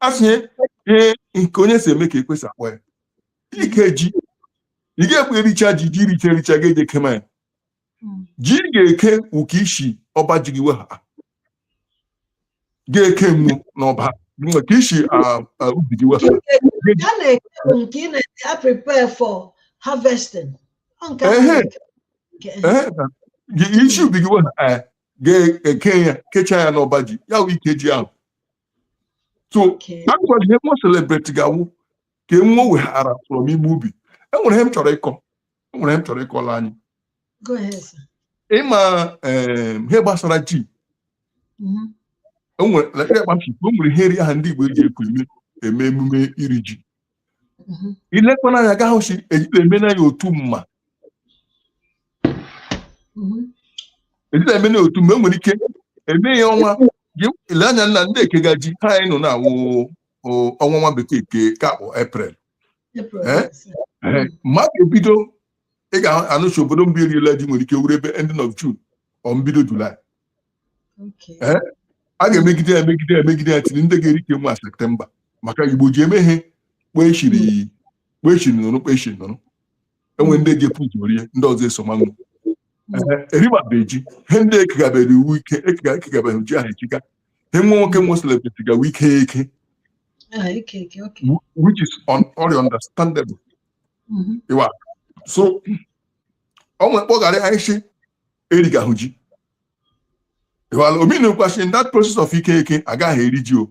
a sị ihe nke onye si eme ka e kwesị ịkpọ ya ike ji ị ga-ekwe ericha ji i richa ericha ga-eje kema ya ji ga-eke ụka i si ọba ji gị weha ga-ekema n'ọba maka i si ubi gị weha i si ubi gị weha ga-eke ya kechaa ya n'ọba ji ya wụ ike ji ahụ so ọ kwa ihe nwa celebrate ga-awụ ka enwe weghara from igbu ubi enwere ihe m chọrọ ịkọ enwere ihe m chọrọ ịkọla anyị ịma eh, ihe gbasara ji mm-hmm. enwere ihe eri aha ndị Igbo eji ekwu eme emume iri ji mhm. i lekwana anya ga-ahụ shi ejila eme na ya otu mma mhm. ejila eme na ya otu mma enwere ike eme ya ọnwa i lee anya nna ndị ekega ji ha anyị nọ na-awụ ọnwa nwa bekee nke ka akpọ April eh? eh, maka e bido ị ga-anụcha obodo mbụ eriela ji nwere ike wụrụ ebe ending of June or mbido July eh, a ga-emegide ya emegide ya emegide ya tiri ndị ga-eri ke nwe septemba maka igbo ji eme ihe kpechiri hmm. kpechiri nụrụ kpechiri nụrụ enwe ndị ji pụta rie ndị ọzọ eso manwụ erimabe ji he ndị ekegabere iwu ike ekegabere ji ahụ echiga he nwe nwoke nwe celebrate gawa ike eke ah, which is very understandable mm-hmm. ịwa so o nwekpọghara anyị si erigahụ ji well o meanụkwa shị that process of ike eke agaghị eri ji o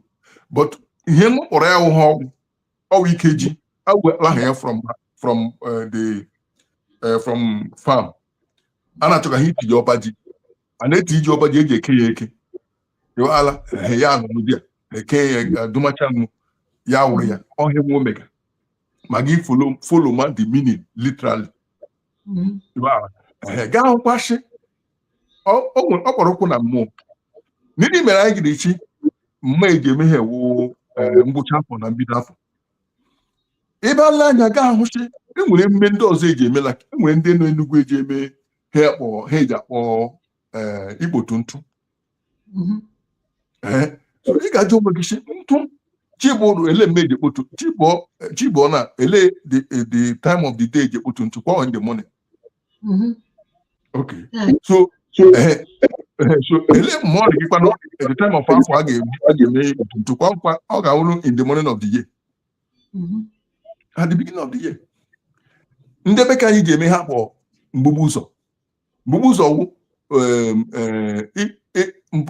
but ihe m kpọrọ ya wụ ha ọ wụ ọ wụ ike ji awụlaha ya from from uh, the uh, from farm a na-achọ ka ha iti ji ọba ji a na-eti ji ọba ji eji eke ya eke ala ya anụrụ di ya eke ya dumacha nụ ya wụrụ ya ọ he nwe emega ma gị follow follow ma the meaning literally ga-ahụkwa shị ọ kpọrọkwụ na mmụọ ndị mere anyị giri chi ma eji eme ha wụ eh, ngwụcha afọ na mbido afọ ebe ala anya ga-ahụ shị enwere emume ndị ọzọ eji eme la enwere ndị nọ Enugu eji eme ha akpọ ha eji akpọ eh, ikpotu ntụ mhm. eh, ị ga-ajụ onwe gị sị ntụ chibụrụ ele mme eji ekpotu chibụọ na ele the time of the day eji ekpotu ntụ kwa in the morning Mm-hmm. Okay. Yeah. So, so, uh, so ele mme ọ dị gịkwa at the time of afọ a ga-eme ntụkwa nkwa ọ ga-awụrụ in the morning of the year. Mm-hmm. At the beginning of the year. Ndị be ka anyị ga-eme ha kpọ mgbugbu ụzọ. Mgbugbu ụzọ wụ um,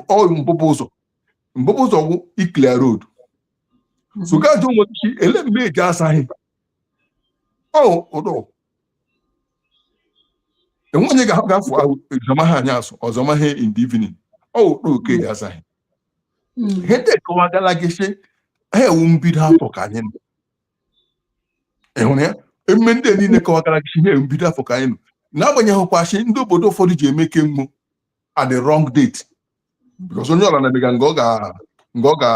uh, mbụbụ ụzọ. Mbụbụ ụzọ wụ ịclear road. Mm-hmm. So ga-ajụ onwe ele mgbe eji asaghị enwe onye ga-asụ ụzọ maha anyị asụ ụzọ maha in the evening ọ wụkpọ okay ya azaghị ihe ndị akọwagala gị sị ha wụ mbido afọ ka anyị nọ ịhụrụ ya emume ndị niile kọwagara gị ihe mbido afọ ka anyị nọ n'agbanyeghịkwa sị ndị obodo ụfọdụ ji eme ke nwe at the wrong date because onye ọla na-emega nga ọ ga nga ọ ga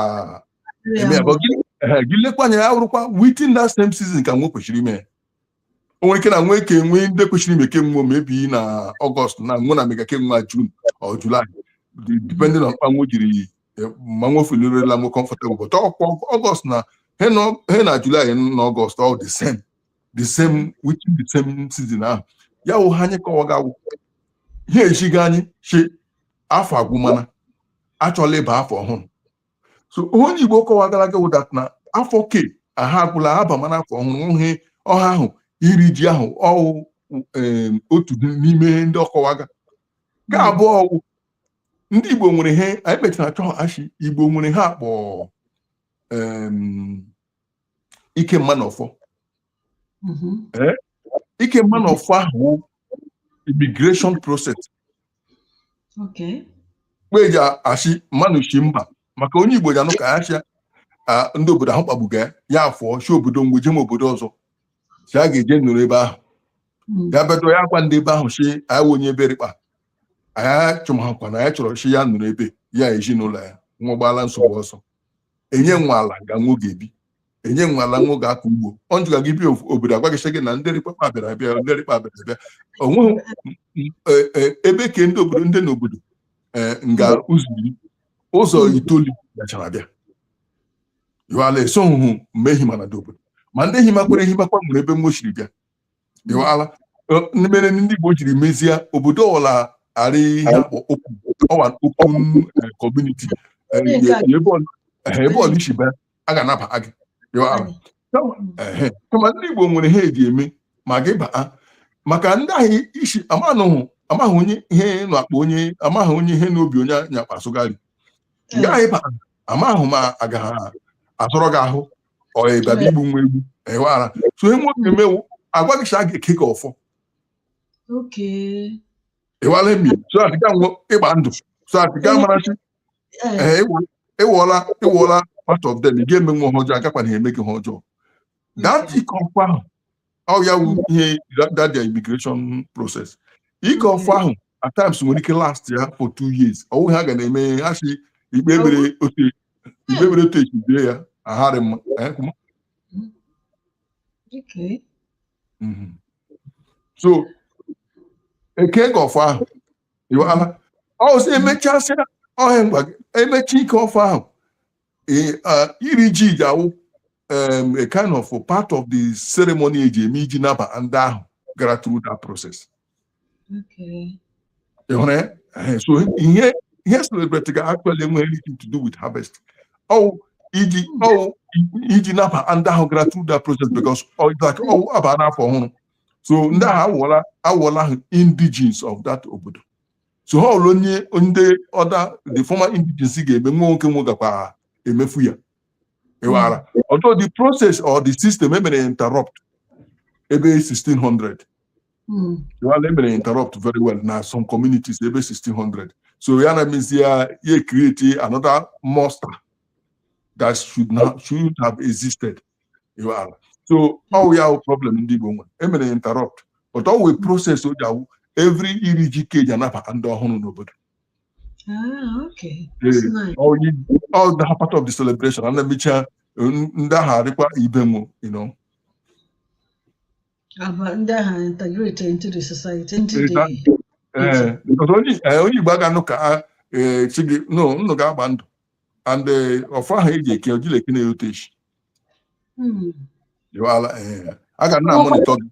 eme ya but gị ehe, gị lekwa anya ya wụrụkwa within that same season ka nwe kwesịrị ime ya. o nwere ike na nwe ka enwe ndị kwesịrị ime ke nwe maybe na ọgọst na nwe na-emega ke nwe june or july de- depending on mkpa nwe jiri eh, ma nwe feelirila nwe comfortable but ọkwa ọgọst na he nọ- he na july na ọgọst all the same the same within the same season ahụ ya wụ ha anyị kọwaga ihe echighị anyị chi afọ agwụmana achọla ịba afọ ọhụrụ so onye Igbo kọwagara gị wụ that na afọ ke ahụ agwụla abamana afọ ọhụrụ ihe ọha ahụ iri ji ahụ ọ wụ otu n'ime ndị ọ kọwaga ke abụọ ọ wụ ndị Igbo nwere ihe anyị mechara achọ a shị Igbo nwere ihe a kpọ ike mma na ọfọ mm-hmm. eh? ike mma na ọfọ ahụ immigration process mgbe e ji a shị mmanụ shi mba maka onye Igbo ji anụ ka ya chịa ndị obodo ahụ kpagbuga ya afụọ shi obodo mgbe jem obodo ọzọ sị ya ga-eje nọrọ ebe ahụ hmm. ya bedo ya gwa ndị ebe ahụ sị anyị wụ onye ebe rị kpa anyị chụmahakwa na ya chọrọ shi ya nọrọ ebe ya ezinụlọ ya nwa gbaala nsogbu ọsọ e nye nwo ala nga nwo ga-ebi e nye nwo ala nwo ga-akọ ugbo ọ njụga gị bi obodo agwa gị sị gị na ndị rị kpa kpa bịara abịa ndị rị kpa bịara abịa o nweghị e, e, ebe ke ndị obodo ndị n'obodo e, nga ụzọ iri ụzọ itoolu bịachara abịa yụala esoghị mgbe ehi mana ndị obodo ma ndị ehi makwara ehi makwa nwere ebe nwo shiri bịa ịwala mere ndị Igbo jiri mezie obodo ọwụla arị ihe a kpọ ọwa okwu community ebe ọwụla i si bịa a ga-anaba gị ịwala kama ndị Igbo nwere ihe e ji eme ma gị baa maka ndị ahụ isi amanụhụ amaghị onye ihe na-akpa onye amaghị onye ihe n'obi onye nyakpa asụgharị gaghị baa amaghị ma agaghị asọrọ gị ahụ or ị bịaba igbu nwo egbu ịwala so ihe nwo na-eme wụ agwa gị a ga-eke gị ọfọ ịwala emi so that a ga-enwe ịgba ndụ so that ị ga-amara shi ị wụọla ị wụọla part of them ị ga-eme nwo ihe ọjọọ agakwanịhị eme gị ihe ọjọọ gaa tikọ ọkwa ahụ ọ ya wụ ihe that their immigration process ike ọfọ ahụ at times nwere ike last ya for two years ọ wụ ha ga na-eme ihe ha si ikpe mere otu ikpe mere otu echi bie ya aharị mma eh, kuma. Okay. Mhm. so e kee gị ọfọ ahụ iwala ọ sị emechasịa ọhịa ngwa gị emechi ike ọfọ ahụ iri ji ji awụ a kind of part of the ceremony e ji eme iji naba ndị ahụ gara through that process ị hụrụ ya so ihe e celebrate ga actually enweghị anything to do with harvest ọ wụ iji ọ wụ iji naba ndị ahụ gara through that process because like ọ wụ a baa n'afọ ọhụrụ so ndị ahụ awụọla awụọla ahụ indigenes of that obodo so ha ọrụ onye ndị other the former indigency ga-eme nwa nwoke nwe gakwa emefu ya ịghara although the process or the system emere ya interrupt ebe 1600 Mm. Well, emere interrupt very well na some communities, ebe 1600. So, ya na-emezi ya e create another monster that should not should have existed. ala so ọwụ ya wụ problem ndị Igbo nwere emere interrupt but ọ wụ process o ji awụ every iri ji ka eji anabata ndị ọhụrụ n'obodo ah, all that part of the celebration and emecha ndị ahụ arịkwa ibe nwo you know ndị ahụ integrate into the society into the Eh, eh, onye igbo aga nụ ka chi eh, gị no nnụ ga-agba ndụ and ọfọ ahụ eji eke ojileke na-erutechi Hmm. Eh, a ga na-amonitọ gị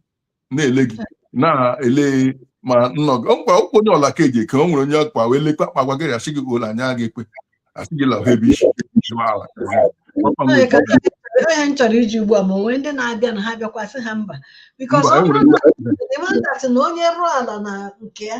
na-ele gị na-ele ma nnọ gị mkpa ụkwụ onye ọla ka eji eke o nwere onye ọkpa wee lekwa akpa gwa gị asị gị ole anya gị ekwe asị gị lahụ ebe isi ala onye m chọrọ iji ugbu a ma onwe ndị na-abịa na ha bịakwa asị ha mba because ọ bụrụ na onye rụọ ala na nke ya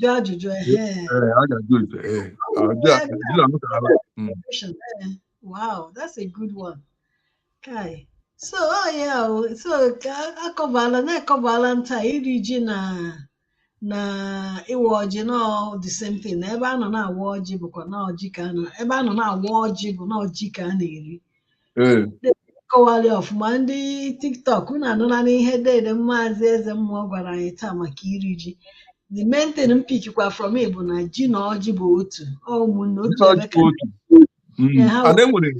jụọ ajụjụ ehe Ee, a ga-ajụ ite. Ee, Ọ ajụ bụ a- ebe ajụ a mụtara ala. Mm. Ocean, eh. Wow, that's a good one. Kai. So, oh yeah, oh, so ka akọbala na-ekọbala nta iri ji na na ịwa ọjị na ọ the same thing. Na ebe a nọ na-awa ọjị bụkwa na ji ka a na ebe a nọ na-awa ọjị bụ na ọ ji ka a na-eri. kọwara ọfụma ndị tiktok unu anụlanụ ihe dede maazị eze mmụọ gwara anyị taa maka iri ji the main thing m pikikwa from it bụ na ji na ọjị bụ otu ọ ụmụnne otu ebe ka Mm. Yeah, how- and enwere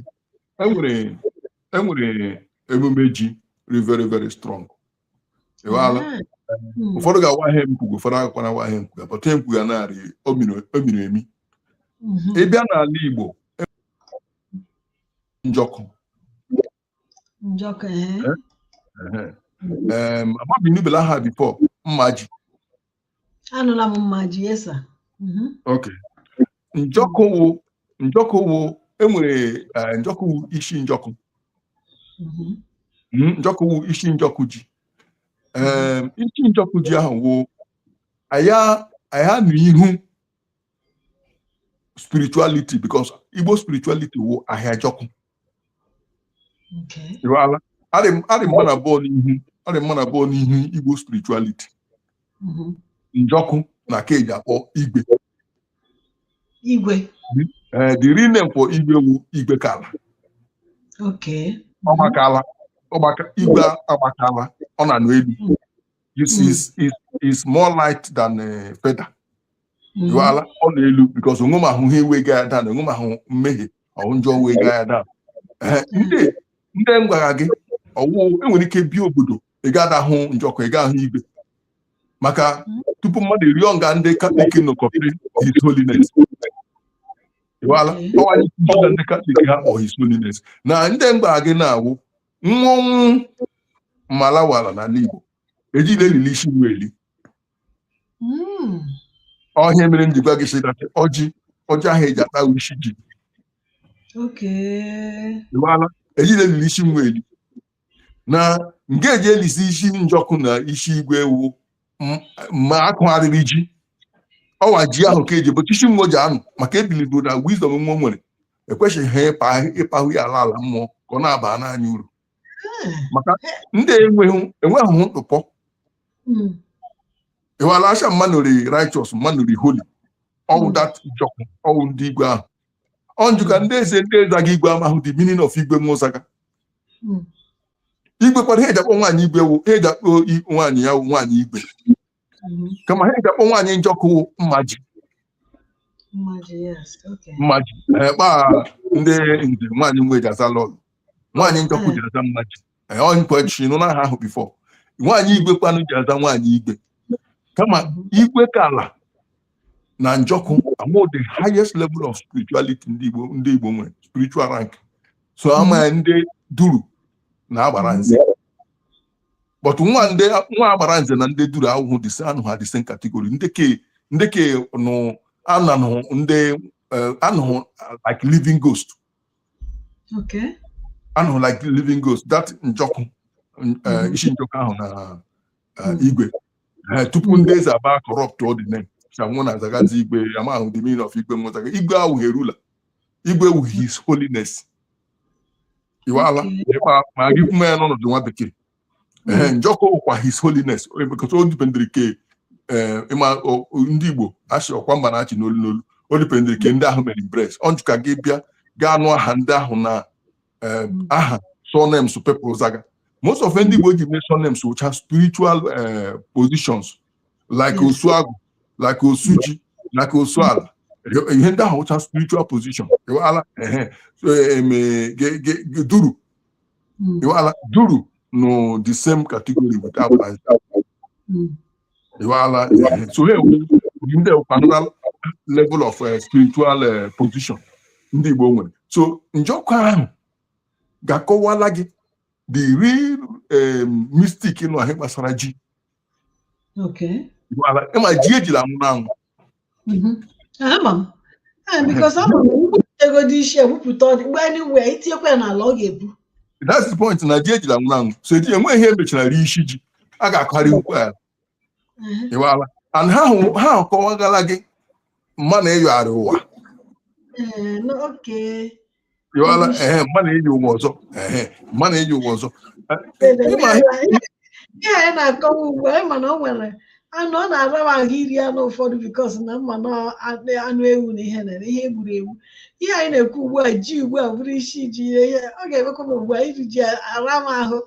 enwere enwere emume ji dị very very strong hmm. ụfọdụ ga-awa ihe m kwuga ụfọdụ agakwana awa ihe m kwuga but ihe m kwuga na-arị o miri emi hmm. ị bịa n'ala Igbo e njọkụ eh? Eh, eh. amabụ ị nụbela aha before mmaji anụla m mmaji yes sir mhm. ok njọkụ wụ njọkụ wụ enwere eh, njọkụ wụ isi njọkụ mhm. mhm, njọkụ wụ isi njọkụ ji Em, isi njọkụ ji ahụ wụ aya aha na ihu spirituality because igbo spirituality wụ ahịajọkụ Ị wala. Ha dị ha dị mma nabụọ n'ihu ha dị mma nabụọ n'ihu Igbo spirituality. Njọkụ na ke eji akpọ igwe. Igwe. Eh, the real name for igwe wụ igwekala. Okay. Ọgbakala ọgbaka igwe agbakala ọ na-anọ elu. you see is is is more light than uh, feather you mm. ala ọ na-elu because onwe m ahụ ihe iwe ga ada na onwe m ahụ mmehie ọhụ njọ wee ga ya ada Ehe, ndị ndị m gwara gị ọwụ enwere ike bie obodo ị ga ada hụ njọkụ ị ga ahụ igwe maka tupu mmadụ eruo nga ndị katọlik nọ kọpịrị his holiness ịwala ọwanye tupu na ndị katọlik ha kpọ his holiness na ndị m gwara gị na-awụ mmọnwụ malawala n'ala Igbo ejila elili isi nwa eli hmm. ọ ihe mere m ji gwa gị sị na ọjị ọjị ahụ eji ata isi ji ejila elili isi nwa eli na nke eji elisi isi njọkụ na isi igwe ewu ma akụgharịrị ji ọwa ji ahụ ka eji bụ chichi nwa ji anụ maka e believe na wisdom nwa nwere ekwesịghị ha ịpa ịpahụ ya ala ala mmụọ ka ọ na-abara anyị uru maka ndị enweghị enweghị ntụpọ ịwala asha mmanụ rị righteous mmanụ rị holy ọwụ dat njọkụ ọwụ ndị igwe ahụ ọnjụ ka ndị eze ndị zaga igwe amahụ the meaning of igwe nwa zaga hmm. igwe kwara ihe eji akpọ nwaanyị igwe wụ ihe eji akpọ nwaanyị ya wụ nwaanyị igwe hmm. kama ihe eji akpọ nwaanyị njọkụ mmaji mmaji ekpa eh, ndị nze nwaanyị nwe ji aza lọlọ nwaanyị njọkụ ji aza mmaji ọhịkwachirinụ n'aha ahụ before nwaanyị igwe kwanụ ji aza nwaanyị igwe kama igwe ka ala na njọkụ awụ the highest level of spirituality ndị Igbo ndị Igbo nwere spiritual rank so ama ya ndị duru na agbara nze but nwa ndị nwa agbara nze na ndị duru awụhụ anọhụ the same category ndị ke ndị ke nụ anụhụ ndị anụhụ like living ghost anụhụ like living ghost that njọkụ eh, mm-hmm. isi njọkụ ahụ na eh, mm-hmm. igwe eh, tupu mm-hmm. ndị eze abịa corruptụọ the name shanwụ na azagazi igwe amahụ the meaning of igwe nwa zaga igwe awụghị a ruler igwe wụ his holiness iwala ma gị kwume ya n'ọnụ ndị nwa bekee ee njọkụ wụkwa his holiness because o dipendịrị ke ee ịma o- o- ndị igbo asị ọkwa mba na-achị n'olu n'olu o dipendịrị ke ndị ahụ mere embrace ọnjụ ka gị bịa ga-anụ aha ndị ahụ na ee, aha surnames people zaga most of ndị igbo ji mee surnames wụcha spiritual ee, positions like Yes. osuagụ like osuji like osuala ihe ndị ahụ wụcha spiritual position ala ehe so, em, eh, ge- ge- ge- duru Mm. Iwala duru nọ the same category with agbara. Mm. Iwala eh, so ha wụ ndị another level of uh, spiritual uh, position ndị Igbo nwere. So njọkụ ahụ ga-akọwala gị the real um, mystic nọ n'ihe gbasara ji ịma ji ejila nwụrụ anwụ egodi isi ewepụta ọ dị mgbe anyị wee itinyekwa ya n'ala ọ ga-epu that's the point na ji ejila nwụrụ anwụ so eji enwe ihe emechara rie isi ji a ga-akọgharị ukwu ala ịwala and ha akọwagala gị m ma na ịyọ arị ụwa ịghọla ehe m ma na-enye ụwa ọzọ ehe m ma na-enye ụwa ọzọ ihe anyị na-akọwa ugbu a mana o nwere anụ ọ na-ara m ahụ iri anụ ụfọdụ because na m ma na anụ ewu na ihe na ihe egburu egbu ihe anyị na-ekwu ugbu a ji ugbu a bụrụ isi ji ihe ihe ọ ga-emekwa m ugbu a iri ji ara m ahụ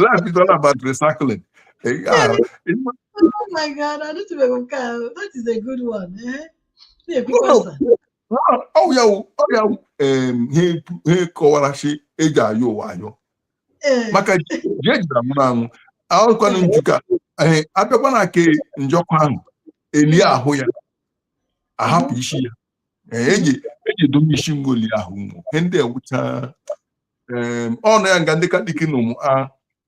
life is all about recycling oh my god anụtụbeghị m nke ahụ that is a good one eh? ọ ya wụ ha kọwara shị eji ayọ ụwa ayọ maka ji ejira nwụrụ anwụ ahụkwana njọkụ abịakwa na nke njọkụ ahụ elie ahụ ya ahapụ isi ya eji edobe isi ngoli ahụ ụmụ ndị ewucha ọnụ ya nga ndị katọlik na ụmụ a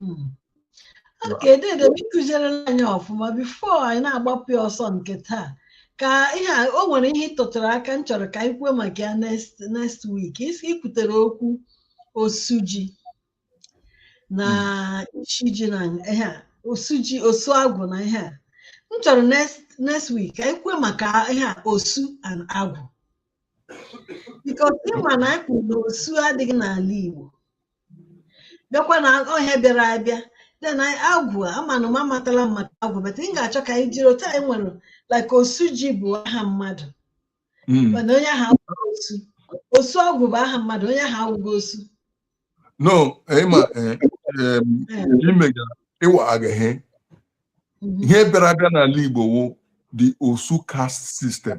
Hmm. okay dede m ị kụzierela anyị ọfụma before anyị na-agbapụ ya ọsọ nke taa ka ihe a o nwere ihe ị tụtụrụ aka m chọrọ ka anyị kwuo maka ya next next week isi ikwutere okwu osuji na isi ji na ihe a osuji osu agwụ na ihe a m chọrọ next next week ka anyị kwuo maka ihe a osu and agwụ because ị ma na anyị kwuru na osu adịghị n'ala Igbo bịakwa na ọ ihe bịara abịa then agwụ amanụ m amatala m maka agwụ but m ga-achọ ka anyị jiri otu anyị nwere like osuji bụ aha mmadụ Mm. mana onye ahụ awụghị osu osuagwụ bụ aha mmadụ onye ahụ awụghị osu no ịma eh, em, Eh, imega ịwa agaghị mhm. ihe bịara abịa n'ala igbo wụ the osu caste system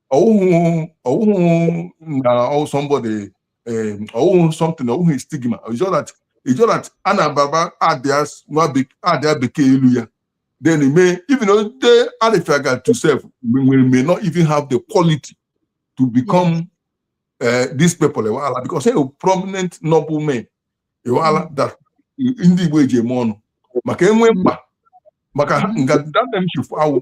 ọwụhụ ọwụhụ na ọwụ somebody eh, ọwụhụ something ọwụhụ stigma it's just that it's just that a na-ababa idea nwa bek- idea bekee elu ya then e may even though they arịfịaga to self we we may not even have the quality to become uh, these people ịwala because they are prominent noble men ịwala that ndị Igbo eji eme ọnụ maka enwe mkpa maka ha- nga that them should awụ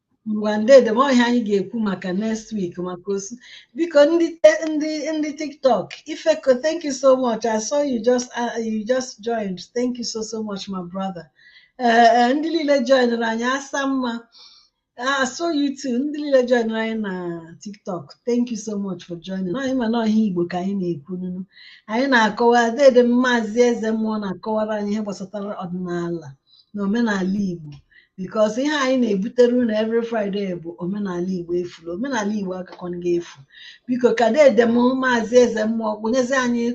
ngwa dedem ọ ihe anyị ga-ekwu maka next week maka osu biko ndị te- ndị ndị tiktok ifeko thank you so much i saw you just uh, you just joined thank you so so much my brother Eh, eh, ndị niile joinere anyị asa mma Ah, so you too. Ndị niile joinere anyị na TikTok. Thank you so much for joining. Anyị ma na ọ ihe Igbo ka anyị na-ekwu nunu. Anyị na-akọwa dedem Maazị Eze mmụọ na-akọwara anyị ihe gbasatara ọdịnala. na omenala Igbo because ihe anyị na-ebutere unu every Friday bụ omenala Igbo efula omenala Igbo akụkọ ndị efu biko ka dedem maazị eze mmụọ nyezie anyị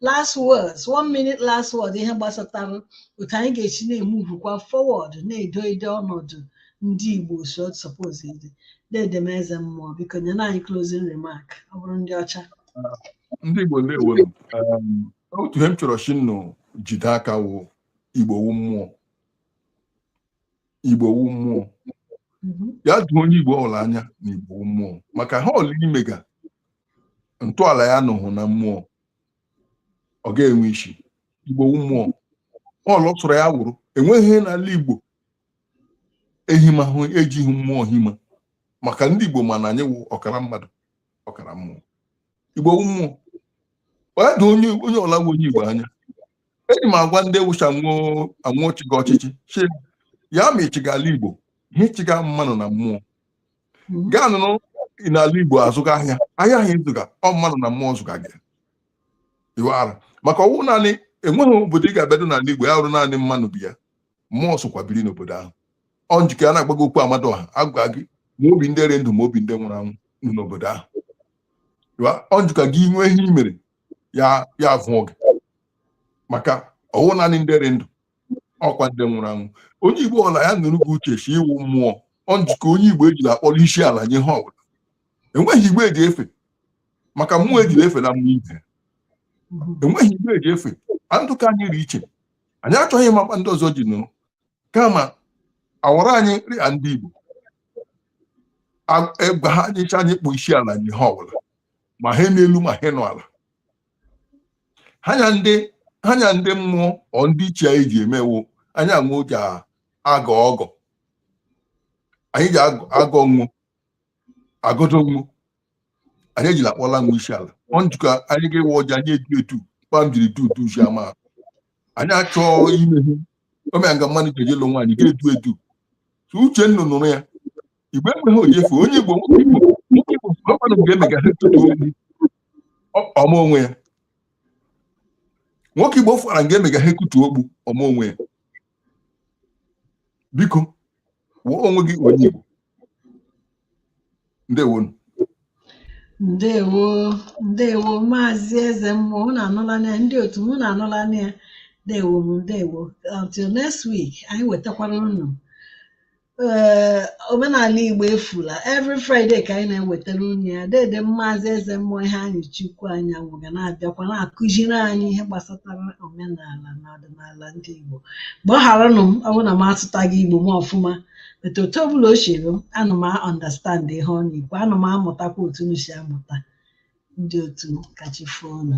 last words one minute last word ihe gbasatara otu anyị ga-esi na-emuvukwa forward na-edo edo ọnọdụ ndị Igbo so suppose ịdị dedem eze mmụọ biko nyere anyị closing remark ọ bụrụ ndị ọcha ndị Igbo ndewo m. Um, otu ihe m chọrọ sị nnụ jide aka wụ igbo wu mmụọ igbo wu mmụọ mhm. ya doo onye igbo ọla anya na igbo wu mmụọ maka ihe ọla ị mega ntọala ya nọhụ na mmụọ ọ ga-enwe isi igbo wu mmụọ ihe ọla sọrọ ya wụrụ enweghị ihe n'ala igbo ehimahụ ejighị mmụọ hima maka ndị igbo ma na anyị wụ ọkara mmadụ ọkara mmụọ igbo wu mmụọ ya doo onye ọla wu onye igbo anya eji m agwa ndị wu sị anwụ chịga ọchịchị sị ya ma ị chịga ala igbo ihe ị chịga mmanụ na mmụọ hmm. gaa nọrọ n'ala igbo azụga ahịa ahịa ahụ ị zụga ọ mmanụ na mmụọ zụga gị iwara maka ọwụ naanị enweghị obodo ị ga-abịado n'ala igbo ya wụrụ naanị mmanụ bi ya mmụọ sokwa biri n'obodo ahụ ọ njike a na-agbago okwu amadụ ọha agwa gị ma obi ndị rị ndụ ma obi ndị nwụrụ anwụ n'obodo ahụ ọ njụka gị nwee ihe i mere ya ya avụ oge maka ọwụ naanị ndị dị ndụ ọkwa ndị nwụrụ anwụ onye igbo ọla ya nọrọ gị uche sị i wu mmụọ ọ njikọ onye igbo ejila akpọrọ isi ala nye ihe ọbụla enweghị ihe igbo ji efe maka mmụọ ejila efe na mmụọ ibe enweghị ihe igbo ji efe andụ ka anyị dị iche anyị achọghị ịma kpa ndị ọzọ ji nọrọ kama awara anyị nri a ndị igbo egwa ha nyecha anyị kpọọ isi ala nye ihe ọbụla ma ihe nọ elu ma ihe nọ ala ha nya ndị ha nya ndị mmụọ ọ ndị ichie anyị ji eme wụ anyị anwụ ji agọ ọgọ anyị ji agọ nwụ agọdọ nwụ anyị ejila akpọla nwụ isi ala ọ njikọ anyị ga-ewe ọjị anyị edu edu kpa m jiri du udu usi ama anyị achọọ ime ihe omea nga mmadụ ji eje lụọ nwaanyị ga-edu edu uche nnụ nọrọ ya igbo ekweghị oyefu onye igbo ọkwanụ ga-emegasị tupu obi ọma onwe ya nwoke igbo fụara nga emega ihe ekutu okpu ọ ma onwe ya biko wụọ onwe gị onye igbo ndewonu ndewo ndewo maazị eze mmụọ unu anụla na ya ndị otu m unu anụla na ya ndewo m ndewo until next week anyị wetakwara unu ee omenala igbo efula every friday ka anyị na-ewetara unu ya dede maazị eze mmụọ iheanyịchukwu anyanwụ ga na-abịakwa na-akụziri anyị ihe gbasatara omenala na ọdịnala ndị igbo gbagharanụ m ọ bụrụ na m asụtaghị igbo m ọfụma but otu ọbụla o siri m ana m a-understand ihe ọ na-ekwu ana m amụtakwa otu unu si amụta ndị otu ka chi fo nụ